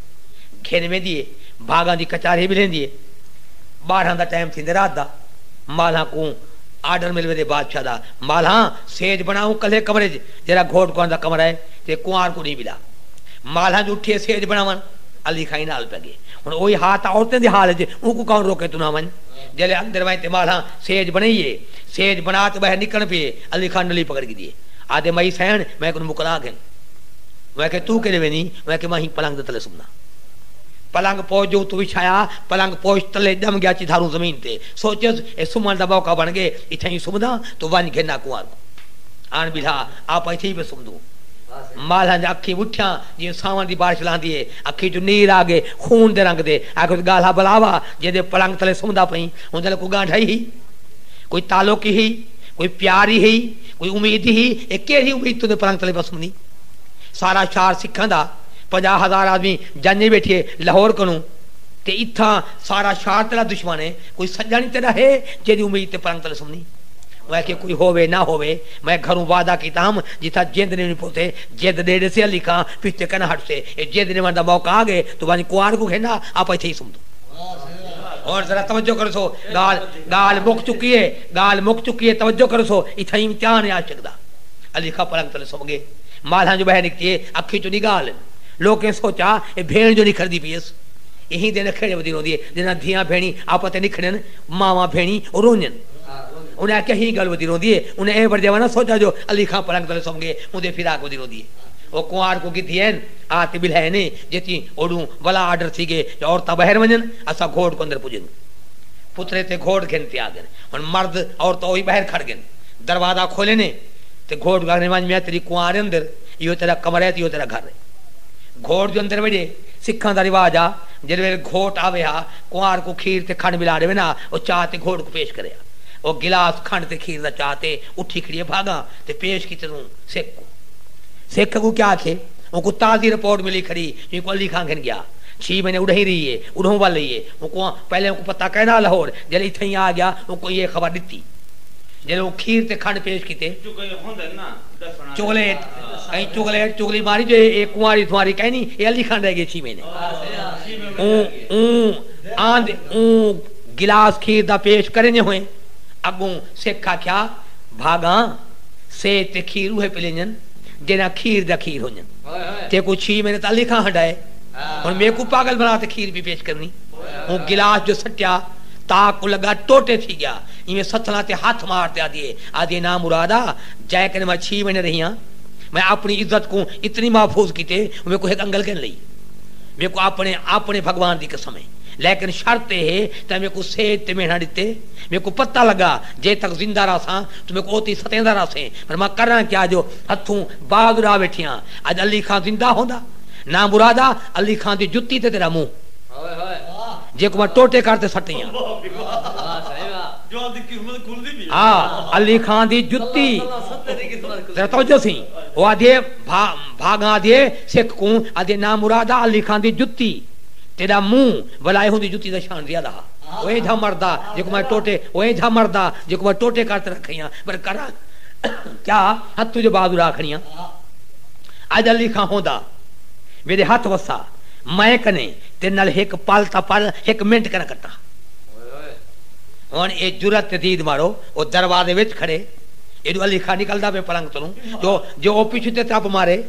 گھن ویندی اے۔ بھاگاں دی کچارھی بلیندی اے۔ بارھاں دا ٹائم تھیندے رات دا۔ مالہا کوں آرڈر مل ویندے بادشاہ دا۔ مالہا سیج بنا اوں کلھے کمرے اچ جیڑھا گھوٹ کنوار دا کمرہ اے تے کنوار کوں ڈی بلا۔ مالہا جو اٹھیے سیج بناون علی خاں ایں نال پیا گے۔ ہݨ اوہی حال تاں عورتیں دے حال اچ اے، اونکوں کون روکے تنہاں ونڄ۔ جیلھے اندر ونڄ تے مالھاں سیج بݨائی اے۔ سیج بݨا تے ٻاہر نکݨ پی اے۔ علی خان نلی پکڑ گھدی اے۔ آہدے مئی سئیݨ میں کنوں مکلا گھن۔ میں آکھیا توں کیݙے ویندی؟ میں آکھیا میں ہئی پلنگ دے تلے سمدا۔ پلنگ پوش جو اتوں وچھایا۔ پلنگ پوش تلے ڄم ڳیا اچی دھاروں زمین تے۔ سوچیس اے سمݨ دا موقع بݨ ڳئے۔ اتھاں ہی سمداں۔ توں ونڄ گھن آکوار کوں۔ آن ٻلھا۔ آپاں اتھے ہی پئے سمدوں۔ مالھاں دیاں اکھیں وٹھیاں جیویں ساوݨ دی بارش لہندی اے۔ اکھیں چوں نیر آ گئے خون دے رنگ دے آکھیس گالھا بلا وا جیندے پلنگ تلے سمدا پئیں اوندے نال کوئی گانڈھا ای ہئی کوئی تعلق ای ہئی کوئی پیار ای ہئی کوئی امید ای ہئی اے کیرھی امید توندے پلنگ تلے پیا سمدی سارا شہر سکھاں دا پنجاہ ہزار آدمی جنج ای بیٹھیے لاہور کنوں تے اتھاں سارا شہر تیڈا دشمن اے کوئی سجن ای تیڈا ہے جیندی امید تے پلنگ تلے سمدی میں آکھیے کوئی ہووے نہ ہووے میں گھروں وعدہ کیتا ہم جتھاں جیند نی ونی پوتے جیند ڈے ڈیسے علی خاں پچھتے کن ہٹ سے اے جے دن وندا موقع آ گئے تو ونج کوان کو گھن آ آپ ایتھے ہی سمدو۔ ہن ذرا توجہ کرسو گال گال مک چکی اے گال مک چکی اے توجہ کرسو اتھاں امتحان اے عاشق دا علی خاں پلنگ تلے سم گئے مالھاں جو بہہ نکتی اے اکھیں چوں نی گال ہن لوکیں سوچا اے بھیݨ جو نکھڑدی پی ایس ایں دے نکھڑے ودی روندی اے جنہاں دھیاں بھیݨیں آپاں تے نکھڑن ماواں بھیݨیں او رونجن انہاں آکھیا ایں گل ودی روندی اے انہاں اے ورجے ونہ سوچا جو علی خاں پلنگ تلے سم گئے اوندے فراق ودی روندی اے۔ او کنوار کوں گھدی این آ تے ٻلھا اینے جتی اوڈوں ولا آرڈر تھی گئے جو عورتاں بہر ونجن اساں گھوٹ کوں اندر پجن پترے تے گھوٹ گھن تے آ گن ہن مرد عورتاں اوہی بہر کھڑ گن دروازہ کھولینے تے گھوٹ کوں آکھنے ونج میاں تیڈی کنوار اندر ایہو تیڈا کمرہ ہے تے ایہو تیڈا گھر ہے گھوٹ جو اندر وجے سکھاں دا رواج ہا جیڈے ویلے گھوٹ آوے ہا کنوار کوں کھیر تے کھنڈ ملا ڈیون ہا او چا تے گھوٹ کوں پیش کرے ہا او گلاس کھنڈ تے کھیر دا چا تے اٹھی کھڑیے بھاگاں تے پیش کیتے توں سکھ کوں سکھ اگوں کیا آکھے؟ اونکوں تازی رپورٹ ملی کھڑی جو اینکوں علی خان گھن گیا۔ چھی مہینے اڈہیں رہی اے، اڈہوں ول رہی اے۔ اونکوں پہلے اونکوں پتہ کائنا لہور جیلھے اتھائیں آ گیا اونکوں ایہہ خبر ڈتی۔ جیلھے اوں کھیر تے کھنڈ پیش کیتے۔ چغلے اچ کہیں چغلے اچ چغلی ماری جو ایہہ کنواری سنواری کائنی ایہہ علی خان رہ گئے چھی مہینے۔ اوں اوں آند اوں گلاس کھیر دا پیش کریں جے ہوئیں۔ اگوں سکھ آکھیا بھاگاں۔ سیج تے کھیر اوہے پلینجن جیڑھاں کھیر دا کھیر ہونجن تیکوں چھی میں نے تاں لکھاں ہنڈائے ہن میکوں پاگل بنا تے کھیر پی پیش کرنی اوں گلاس جو سٹیا تاک کوں لگا ٹوٹے تھی گیا ایویں ستھلاں تے ہتھ مار تے آدھیے آدھیے نا مرادا جئے کنے میں چھی میں نے رہیاں میں اپنی عزت کوں اتنی محفوظ کیتے ہوں میکوں ہک انگل گھن لئی میکوں اپنے اپنے بھگوان دی قسم ہے لیکن شرط اے ہے تیں میکوں سیج تے مہنڑاں ڈتے میکوں پتہ لگا جے تک زندہ رہساں توں میکوں اوتی ستیندا رہسیں پر میں کراں کیا جو ہتھوں باز اڑا ویٹھیاں اج علی خاں زندہ ہوندا ناں مرادا علی خاں دی جتی تے تیرا منہ جیکوں میں ٹوٹے کر تے سٹیاں ہا علی خاں دی جتی ذرا توجہ سی او آدھیے بھا بھاگاں آدھیے سکھ کوں آدھیے ناں مرادا علی خاں دی جتی تیرا منہ ولا ایہوں دی جتی دا شان زیادہ ہا او اینجھا مردا جیکوں میں ٹوٹے او اینجھا مردا جیکوں میں ٹوٹے کر تے رکھیں ہاں پر کراں کیا ہتھوں جو بازو را کھڑیاں اج علی خاں ہوندا میڈے ہتھ وسا میں کنے تیرے نال ہک پل تاں پر ہک منٹ کنا کٹا ہن اے جرات تے دید مارو او دروازے وچ کھڑے ایڈو علی خاں نکلدا پے پلنگ توں جو جو او پچھوں تے ترپ مارے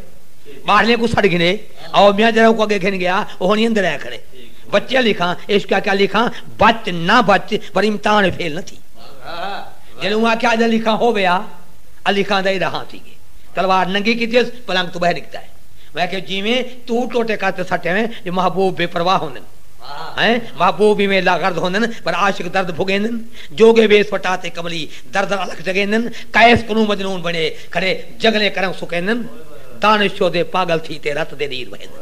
باہرلیں کوں سڈ گھنے او میاں جرا اونکوں اگے گھن گیا او ہنی اندر اے کھڑے بچے علی خاں عشق آکھیا علی خاں بچ نہ بچ پر امتحان اچ فیل نہ تھی جیلے اوں آکھیا اج علی خاں ہووے آ علی خاں دا ایڈا ہاں تھی گئے تلوار ننگی کیتیس پلنگ توں بہہ نکتا ہے میں آکھیا جیویں توں ٹوٹے کر تے سٹے ہوئیں جو محبوب بے پرواہ ہوندن ہیں محبوب ایویں لا غرض ہوندن پر عاشق درد بھگیندن جوگے ویس وٹا تے کملی درد الکھ جگیندن قیس کنوں مجنون بنے کھڑے جگلیں کرم سکیندن دانش شودے پاگل تھی تے رت دے نیر وہیندن۔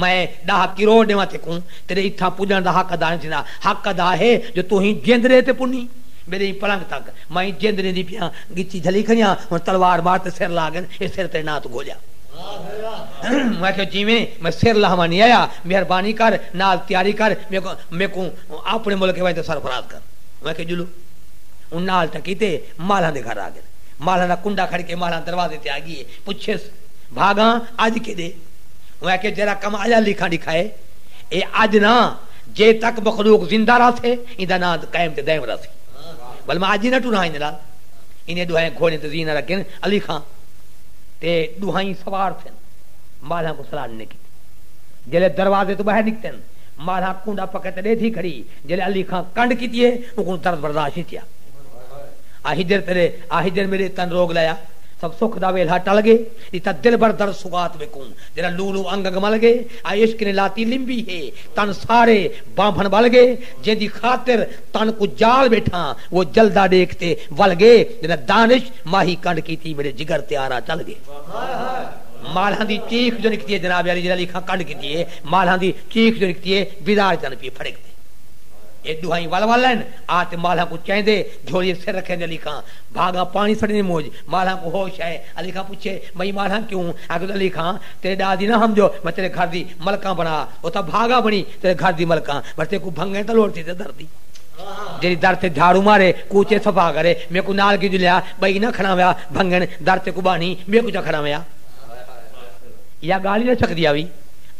میں ݙاہ کروڑ ݙیواں تیکوں، تیݙے اتھاں پڄݨ دا حق ادا نئیں تھیندا، حق ادا ہے جو توں ایں جیندرے تے پنی، میݙے ایں پلنگ تک، میں ایں جیندرے دی پیاں ڳچی جھلی کھڑی ہاں، ہݨ تلوار مار تے سر لاہ ڳن، اے سر تیݙے ناں توں گھولیاں۔ میں آکھیا جیویں، میں سر لاہواں نئیں آیا، مہربانی کر، نال تیاری کر، میکوں میکوں آپݨے ملک وچ تاں سرفراز کر۔ میں آکھیا ڄلو۔ اوں نال ٹکی تے مالھاں دے گھر آ ڳن۔ مالھاں دا کنڈا کھڑ کے مالھاں دروازے تے آ ڳی اے، پچھیس، بھاڳاں، اڄ کیݙے؟ اوں آکھیا جیرھا کم اللہ لیکھاں ڈکھائے اے اج نہ جے تک مخلوق زندہ رہسے ایندا ناں قائم تے دائم رہسی ول میں اج ہی نہ ٹراں ایندے نال انہیں ڈوہائیں گھوڑیں تے زینہ رکھن علی خاں تے ڈوہائیں سوار تھن مالھاں کوں سلام نئیں کیتی جیلے دروازے توں باہر نکتن مالھاں کونڈا پکے تے ڈیدھی کھڑی جیلے علی خاں کنڈ کیتی اے اونکوں درد برداشت نئیں تھیا آ ہجر تیرے آ ہجر میڈے تن روگ لایا سب سکھ دا ویلھا ٹل گئے ڈتا دلبر درد سوغات میکوں جیرھا لو لو انگ انگ مل گے آ عشق نے لاتی لمبی ہے تن سارے بانبھن ول گے جیندی خاطر تن کوں جال بیٹھاں وہ جلدا ڈیکھ تے ول گے جیندہ دانش ماہی کنڈ کیتی میڈے جگر تے آرا چل گے مالھاں دی چیخ جو نکتی ہے جناب عالی جیرھا لیکھاں کنڈ کیتی ہے مالھاں دی چیخ جو نکتی ہے بیزار جن پی پھڑک تے اے ڈوہائیں ول ول لین آ تے مالھاں کوں چیندے جھولیے سر رکھیندے لیکھاں بھاگاں پانی سڑیندے موج مالھاں کوں ہوش ہے علی خاں پچھے مئی مارھاں کیوں؟ آکھیس علی خاں تیرے ڈا دی نہ ہمجو میں تیرے گھر دی ملکاں بنا او تاں بھاگا بنی تیرے گھر دی ملکاں پر تیکوں بھنگیں تاں لوڑ تھیسے در دی جیڑھی در تے جھاڑو مارے کوچے صفا کرے میکوں نال کیوں جلیا بئی نہ کھڑاویا بھنگن در تیکوں بانی بے کوچہ کھڑاویا یا گالھ ہی نہ سکدی آوی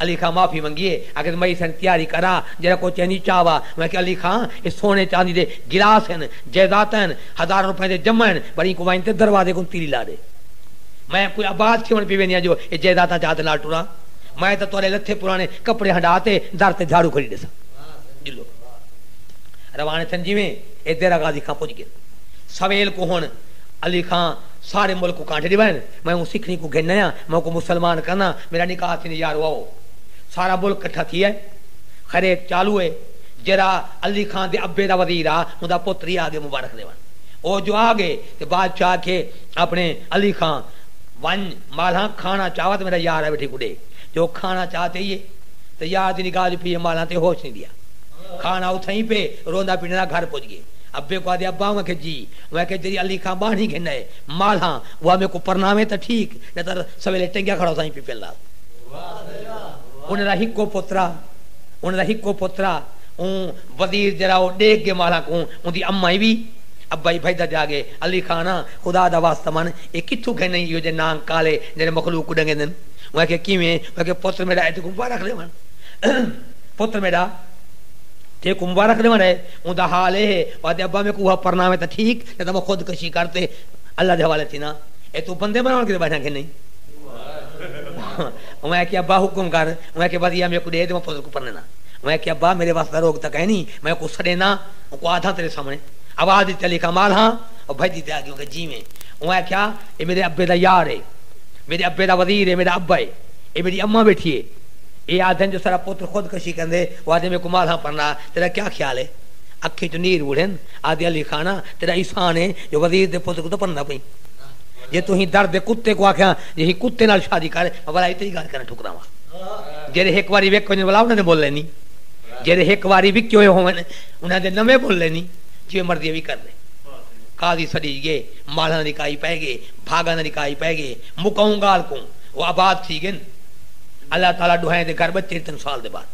علی خاں معافی منگی اے آکھیس مئی سن تیاری کرا جیڑھا کوچے نی چاوا میں آکھیا علی خاں اے سونے چاندی دے گلاس ہن جیداتاں ہن ہزاراں روپیاں دے جمع ہن پر اینکوں ونڄ تے دروازے کوں تیلی لا ݙے۔ میں کوئی آباد تھیوݨ پی وینیاں جو اے جائیداداں چا ہتھ نال ٹراں۔ میں تاں تہاݙے لتھے پراݨے کپڑے ہنڈا تے در تے جھاڑو کھڑی ݙیساں۔ ڄلو۔ رواݨے تھئن جیویں اے دیرہ غازی خاں پڄ ڳن۔ سویل کوں ہݨ علی خاں سارے ملک کوں کانڈھے ݙیوائن۔ میں اوں سکھڑی کوں گھن آیاں۔ میں اوکوں مسلمان کرناں۔ میݙا نکاح تھیندے یارو آؤ۔ سارا ملک کٹھا تھی آئے۔ خیریت چالو اے۔ جیرھا علی خان دے ابے دا وزیر ہا اوندا پتر ہی آگے مبارخ ݙیوݨ او جو آگے تے بادشاہ آکھے اپݨے علی خان ونڄ مالھاں کھاݨا چاوا تے میݙا یار ہے ویٹھے کوں ݙے جو او کھاݨا چا تے ای ہے تے یار دی نگاہ جو پئی ہے مالھاں تے ہوش نی ݙیا کھاݨا اتھاں ای پئے روندا پنݙا دا گھر پڄ ڳئے ابے کوں آہدے ابا اوں آکھے جی اوں آکھے جیڑھی علی خان ٻانہݨی گھن آئے مالھاں اوہا میکوں پرناویں تاں ٹھیک نہ تاں سویلے ٹنگیا کھڑا ہوساں ای پپل نال اونہاں دا ہکو پتر ہا۔ انہاں دا ہکو پترا اوں وزیر جیرھا او ڈیکھ گے مالا کوں اوندی اماں ای وی ابا ای بھجدا جا گے علی خان آں خدا دا واسطہ من اے کتھوں گھنیں ایہو جے نانگ کالے جیرھے مخلوق کوں ڈنگیندن اوں آکھیا کیویں اوں آکھیا پتر میڈا اے تیکوں مبارخ ڈیون پتر میڈا تیکوں مبارخ ڈیون اے اوندا حال اے ہے او آدھے ابا میکوں اوہا پرناویں تاں ٹھیک نہ تاں میں خود کشی کر تے اللہ دے حوالے تھینداں اے توں بندے بناون کیتے بیٹھاں کھنیں اوں آکھیا ابا حکم کر اوں آکھیا ودھیا میکوں ݙے تے میں پتر کوں پرݨینداں۔ اوں آکھیا ابا میݙے وس دا روک تاں کائے نھیں میں اوکوں سݙینداں اوکوں آدھاں تیݙے سامݨے آواز ݙتی علی خاں مال ہاں او بھڄدی تے آڳی اونکھیا جیویں اوں آکھیا اے میݙے ابے دا یار اے میݙے ابے دا وزیر اے میݙا ابا اے اے میݙی اماں ٻیٹھی اے اے آدھن جو ساݙا پتر خود کشی کریندے او آدھے میکوں مال ہاں پرݨا تیݙا کیا خیال اے اکھیں چوں نیر وڑھن آدھے علی خاں نا تیݙا احسان اے جو وزیر دے پتر کوں تاں پرݨیندا پئیں جے توں ایں در دے کتے کوں آکھیاں جو ایں کتے نال شادی کر میں ولا اتری ڳالھ کرݨ جیڑھے ہک واری وک ونڄݨ والا انہاں دے مول اینی جیڑھے ہک واری وکے ہوئے ہوون انہاں دے نویں مول اینی جیویں مرضی وی کر لے قاضی سݙیج ڳئے مالھاں دی کائی پئے ڳئے بھاڳاں دی کائی پئے ڳئے مکاؤں ڳالھ کوں او آباد تھی ڳن اللہ تعالی ݙوہائیں دے گھر ٻچے تن سال دے بعد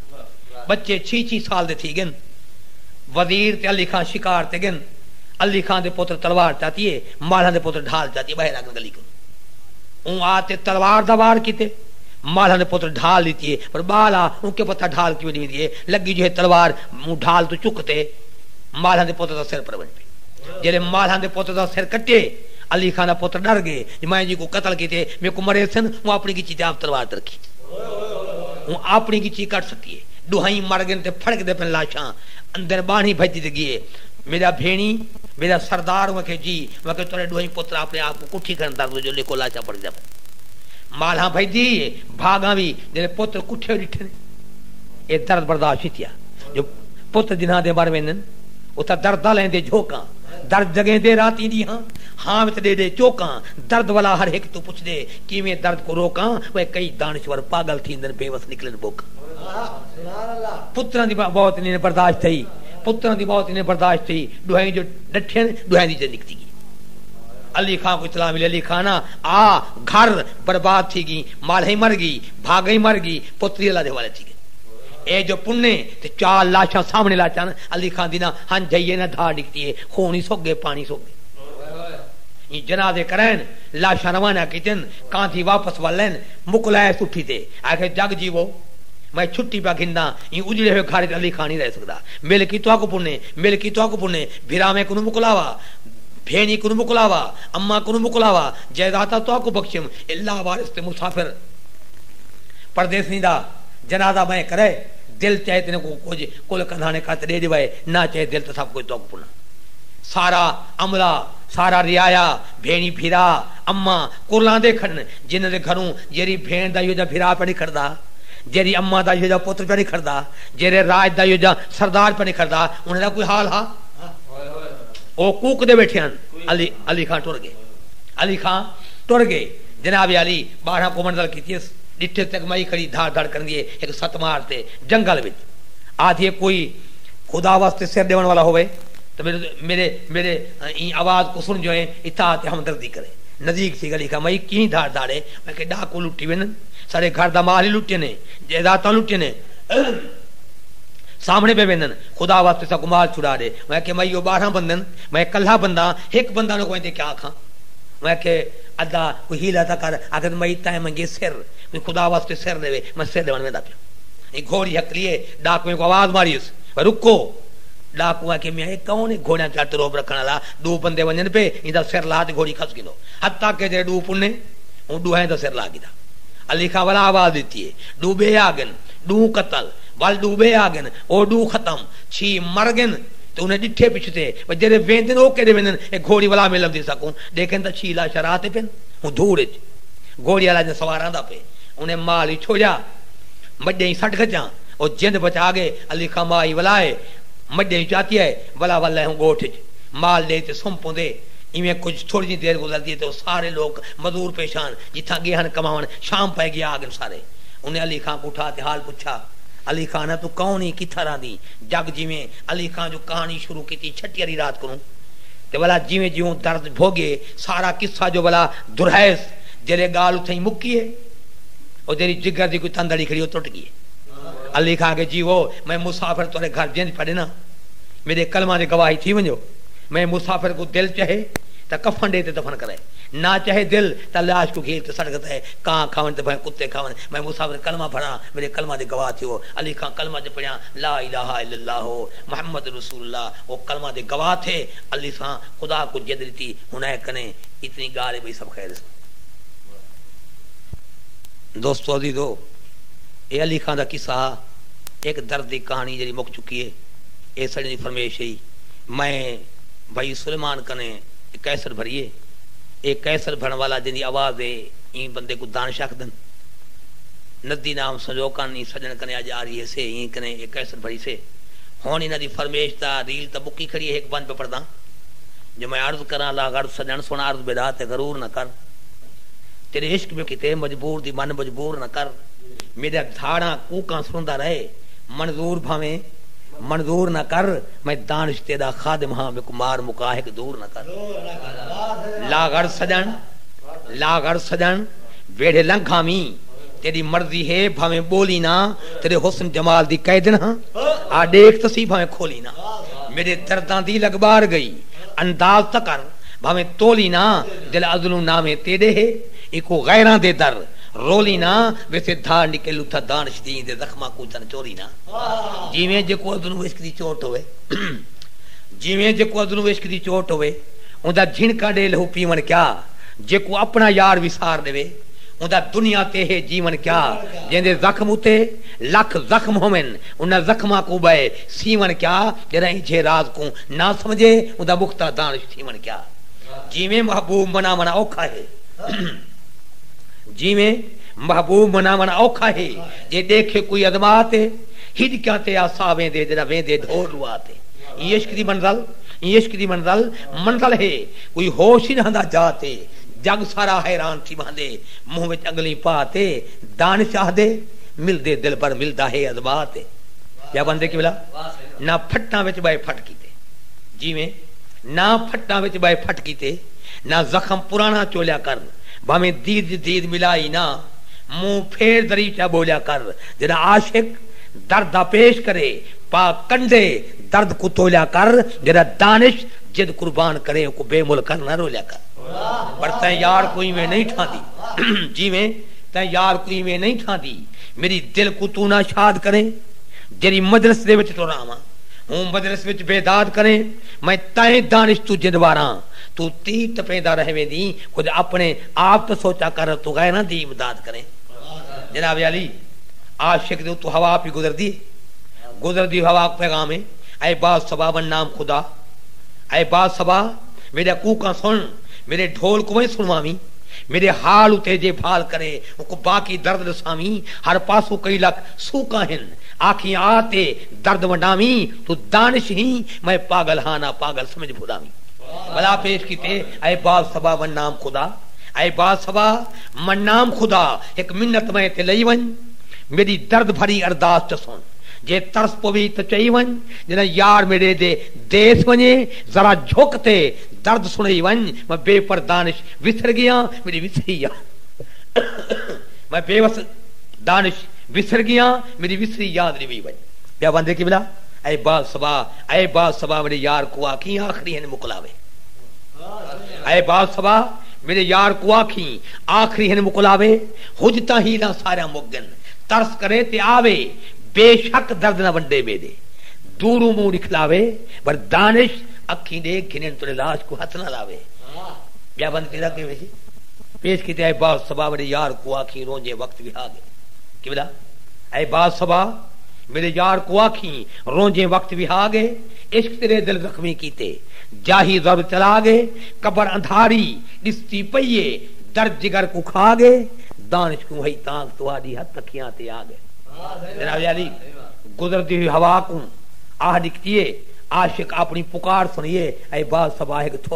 ٻچے چھی چھی سال دے تھی ڳن وزیر تے علی خاں شکار تے ڳن علی خاں دے پتر تلوار چاتی اے مالھاں دے پتر ڈھال چاتی اے ٻہے لڳن گلی کوں اوں آ تے تلوار دا وار کیتے۔ مالہا دے پتر ڈھال ڈتی ہے پر بال آ اوں کے پتہ ڈھال کیویں ڈیویندی ہے لگی جو ہے تلوار اوں ڈھال توں چک تے مالہا دے پتر دا سر پر ونج پئی جیلے مالہا دے پتر دا سر کٹے علی خان دا پتر ڈر گئے جو میں جی کوں قتل کیتے میکوں مرے سن اوں اپنی گچی تے آپ تلوار تے رکھی اوں اپنی گچی کٹ سٹی ہے ڈوہائیں مر گئن تے پھڑک دے پن لاشاں اندر بانھی بھج دتی گئی ہے میڈا بھینی میڈا سردار اوں آکھے جی اوں آکھے تہاڈے ڈوہائیں پتر اپنے آپ کٹھی کھن درد جو ݙیکھو لاشاں پڑھدیاں پن مالہاں بھجدی ہے بھاگاں وی جیندے پتر کٹھے ہوئے ݙٹھے نے اے درد برداشت کیتیا جو پتر جنہاں دے مر ویندن اتھاں درداں لیندے جھوکاں درد جگیندے راتیں ݙینہاں ہاں وچ ݙے ݙے چوکاں درد والا ہر ہک توں پچھدے کیویں درد کوں روکاں وے کئی دانشور پاگل تھیندن بے وس نکلن ٻوکاں پتراں دی موت انہیں برداشت تھئی پتراں دی موت انہیں برداشت تھئی ݙوہیں جو ݙٹھن ݙوہیں دی جان نکتی گئی علی خاں کوں اطلاع ملی علی خاں نا آ گھر برباد تھی گی مالہئی مر گی بھاگئی مر گی پوتری اللہ دے حوالے تھی گئی اے جو پنے تے چار لاشاں سامنے لا چن علی خاں دی نہ ہن جھئی اے نہ دھا ڈکھتی اے خون ہی سک گئے پانی سک گئے ایں جنازے کرین لاشاں روانہ کیتن کاندھی واپس ولین مکلائے سٹھی تے آکھے جگ جیوو میں چھٹی پیا گھنداں ایں اجڑے ہوئے گھر وچ علی خاں نہیں رہ سکدا مل کی تہاکوں پنے مل کی تہاکوں پنے بھراویں کنوں مکلاوا بھیݨی کنوں مکلاوا، اماں کنوں مکلاوا، جائیداداں تہاکوں بخشیم، اے لا وارث تے مسافر پردیسیں دا جنازہ بئیں کرئے، دل چاہے تیݙے کوں کجھ کل کندھاݨے کت ݙے ݙیوائے، نہ چاہے دل تاں سب کجھ تہاکوں پݨا۔ سارا عملہ، سارا رعایا، بھیݨی بھرا، اماں، کرلاندے کھڑن، جنھاں دے گھروں جیرھی بھیݨ دا ایہو جہا بھرا پیا نکھڑدا، جیرھی اماں دا ایہو جہا پتر پیا نکھڑدا، جیرھے راج دا ایہو جہا سردار پیا نکھڑدا، انھاں دا کوئی حال ہا؟ او کوکدے ویٹھے ہن۔ علی علی خاں ٹر گئے۔ علی خاں ٹر گئے۔ جناب علی باڑھاں کوں منزل کیتیس۔ ڈٹھے تک مئی کھڑی دھڑ دھڑ کریندی اے۔ ہک ست مار تے جنگل وچ۔ آدھی اے کوئی خدا واسطے سر ڈیون والا ہووے تاں میڈے میڈے ایں آواز کوں سن جوئیں اطاعت تے ہمدردی کرے۔ نزیک تھی علی خاں مئی کہیں دھڑ دھڑ اے۔ میں کہ ڈاکو لٹی ویندن۔ ساڈے گھر دا مال ہی لٹیندے۔ جائیداداں لٹیندے۔ سامنے پے ویندن۔ خدا وا تساکوں مال چھڑا ݙے۔ میں آکھیا مئی او ٻارہاں بندے ہن، میں کلھا بندہ ہاں، ہک بندہ نہ کوئیں تیں کیا آکھاں۔ میں آکھیا ادا کوئی حیلہ تاں کر، آکھیس مئی تیں منگے سر، کوئی خدا واسطے سر ݙیوے، میں سر ݙیوݨ ویندا پیاں۔ ایں گھوڑی ہکلیے، ݙاکوئیں کوں آواز ماریس، میں رکو۔ ݙاکو آکھیا میاں اے کون اے گھوڑیاں تیاڑ تے رعب رکھݨ آلا، ݙو بندے ونڄن پئے، ایندا سر لا تے گھوڑی کھس گھنو۔ حتی کہ جیڑھے ݙو پݨے، اوں ݙوہائیں دا سر لا گھدا۔ علی خاں ولا آواز ݙتی اے، ݙو ٻئے آڳن، ݙوں قتل، ول ݙو ٻئے آڳن، او ݙو ختم چھی مر ڳن تے انھیں ݙٹھے پچھتے و جیرھے ویندن او کیݙے ویندن اے گھوڑی ولا میں لبھدی ساکوں ݙیکھن تاں چھی لاشاں راہ تے پن ہوں دھوڑ اچ گھوڑی والا جئیں سوار آندا پئے انھیں مال وی چھوڑیا مڄئیں سٹ گھچاں او جند بچا ڳئے علی خاں ماء ای ولا اے مڄئیں چاتی اے ولا ول لہوں ڳوٹھ اچ مال ݙے تے سم پوندے ایویں کجھ تھوڑی جئیں دیر گزردی اے تے او سارے لوک مزور پیش آن جتھاں ڳئے ہن کماوݨ شام پئے ڳی آ ڳن سارے انھیں علی خاں کوں اٹھا تے حال پچھا علی خان ہے توں کون ہیں کتھاں رہندیں جگ جیویں علی خان جو کہانی شروع کیتی چھٹی آلی رات کنوں تے ولا جیویں جیوں درد بھوگے سارا قصہ جو ولا دہرائیس جیلے گالھ اتھائیں مکی ہے او جیری جگر دی کوئی تند اڑی کھڑی او ٹٹ گئی ہے علی خان آکھے جیوو میں مسافر تہاڈے گھر جنج پڑھناں میڈے کلماں دی گواہی تھی ونجو میں مسافر کوں دل چہے تاں کفن ڈے تے دفن کرے نہ چہے دل تاں لاش کوں گھیل تے سٹ گھتے کاں کھاون تے بھویں کتے کھاون میں مسافر کلمہ پڑھاں میݙے کلمہ دے گواہ تھیو۔ علی خاں کلمہ تے پڑھیاں لا الہ الا اللہ محمد رسول اللہ او کلمہ دے گواہ تھے علی خاں خدا کوں ضد ݙتی ہݨ اے کنے اتنی ڳالھ اے ٻئی سب خیر اے سݨ۔ دوستو عزیزو اے علی خاں دا قصہ ہا ہک درد دی کہاݨی جیڑھی مک چکی اے اے سݙیں دی فرمیش ہئی میں بھائی سلیمان کنے اے کیسٹ بھری اے اے کیسٹ بھرݨ والا جیندی آواز اے ایں بندے کوں دانش آکھدن۔ ندی نام سنجو کن ایں سجݨ کنے اڄ آری ہیسے ایں کنے اے کیسٹ بھریسے ہݨ انہاں دی فرمیش دا ریل تاں مکی کھڑی اے ہک ونج پہ پڑھداں جو میں عرض کراں لا غرض سجݨ سݨ عرض بلا تے غرور نہ کر تیݙے عشق میں کیتے مجبور دی من مجبور نہ کر میݙیاں دھاڑاں کوکاں سݨدا رہے منظور بھانویں منظور نہ کر میں دانش تیݙا خادم ہاں میکوں مار مکا ہک دور نہ کر لا غرض سجݨ لا غرض سجݨ ویڑھے لنگھ آویں تیݙی مرضی ہے بھانویں ٻولی نہ تیݙے حسن جمال دی قیدن ہاں آ ݙیکھ تاں سہی بھانویں کھولی نہ میݙے درداں دی لڳ ٻار ڳئی انداز تاں کر بھانویں تولی نہ دل ازلوں ناویں تیݙے ہے ایکوں غیراں دے در رولی نہ ویسے دھا نکے لتھا دانش دین دے زخماں کوں تن چولی نہ جیویں جیکوں ازلوں عشق دی چوٹ ہووے جیویں جیکوں ازلوں عشق دی چوٹ ہووے اوندا جھنکاں ݙے لہو پیوݨ کیا جیکوں اپݨا یار وسار ݙیوے اوندا دنیا تے ہے جیوݨ کیا جیندے زخم اتے لکھ زخم ہوون انہاں زخماں کوں ٻئے سیوݨ کیا جݙاں ایجھے راز کوں نہ سمجھے اوندا مختہ دانش تھیوݨ کیا جیویں محبوب مناوݨ اوکھا ہے جیویں محبوب مناوݨ اوکھا ہے جے ݙیکھے کوئی ازما تے ہڄکیاں تے آ ساہ ویندے جݙاں ویندے ڈھور ݙوا تے ایں عشق دی منزل ایں عشق دی منزل منزل ہے کوئی ہوش ای نہ ہندا جا تے جگ سارا حیران تھی وہندے منہ وچ انگلیں پا تے دانش آہدے ملدے دلبر ملدا ہے ازما تے یا بندے قبلہ نہ پھٹاں وچ ٻئے پھٹ کیتے جیویں نہ پھٹاں وچ ٻئے پھٹ کیتے نہ زخم پراݨا چولیا کر بھانویں دید وچ دید ملائی نہ منہ پھیر دریچہ ٻولیا کر جݙاں عاشق درد دا پیش کرے پا کنڈے درد کوں تولیا کر جݙاں دانش جد قربان کرے اوکوں بے مل کر نہ رولیا کر پر تیں یار کوں ایویں نئیں ٹھاندی جیویں تیں یار کوں ایویں نئیں ٹھاندی میڈی دل کوں توں نہ شاد کریں جیڈی مجلس دے وچ ٹراواں ہوں مجلس وچ بے داد کریں میں تائیں دانش توں جند واراں توں تیر ٹپیندا رہ ویندیں کجھ اپنے آپ تے سوچا کر توں غیراں دی امداد کریں جناب عالی عاشق دے اتوں ہوا پی گزردی ہے گزردی ہوا کوں پیغام ہے۔ اے با صبا ون نام خدا اے با صبا میݙا کوکاں سݨ میݙے ڈھول کوں وئیں سݨواویں میݙے حال اتے جے بھال کرے اونکوں باقی درد ݙساویں ہر پاسوں کئی لکھ سوکاں ہن آکھیں آ تے درد ونڈاویں توں دانش ہیں میں پاگل ہاں نہ پاگل سمجھ بھلاویں۔ بھلا پیش کیتے اے با صبا ون نام خدا اے با صبا ون نام خدا ہک منت میں تے لئی ونڄ میݙی درد بھری ارداس چسݨ۔ جے ترس پوی تاں چئی ونڄ ڄݙاں یار میݙے دے دیس ونڄے ذرا جھک تے درد سݨئی ونڄ میں بے پر دانش وسر ڳیاں میݙی وسری یار میں بے وس دانش وسر ڳیاں میݙی وسری یاد ݙیوی ونڄ۔ ٻیا وندے قبلہ اے باز صبا اے باز صبا میݙے یار کوں آکھیں آخری ہن مکلاوے اے باز صبا میݙے یار کوں آکھیں آخری ہن مکلاوے حجتاں حیلاں ساریاں مک ڳن ترس کرے تے آوے، بے شک درد نہ ونڈے میݙے دوروں منہ ݙکھلاوے، پر دانش اکھیں ݙے گھنن تیݙے لاش کوں ہتھ نہ لاوے۔ ٻیا بند کیرھا کیوے سی؟ پیش کیتے اے با صبا میݙے یار کوں آکھیں رونجھے وقت وہا گئے۔ قبلہ اے با صبا میݙے یار کوں آکھیں رونجھے وقت وہا گئے، عشق تیݙے دل زخمی کیتے جاہی ضرب چلا گئے، قبر اندھاری ݙسدی پئی اے درد جگر کوں کھا گئے، دانش کوں ہئی تانکھ تہاڈی ہتھ اکھیاں تے آ گئے۔ جناب عالی گزردی ہوئی ہوا کوں آہ ڈکھتی ہے عاشق اپنی پکار سنیے اے باز صبا ہک تھو۔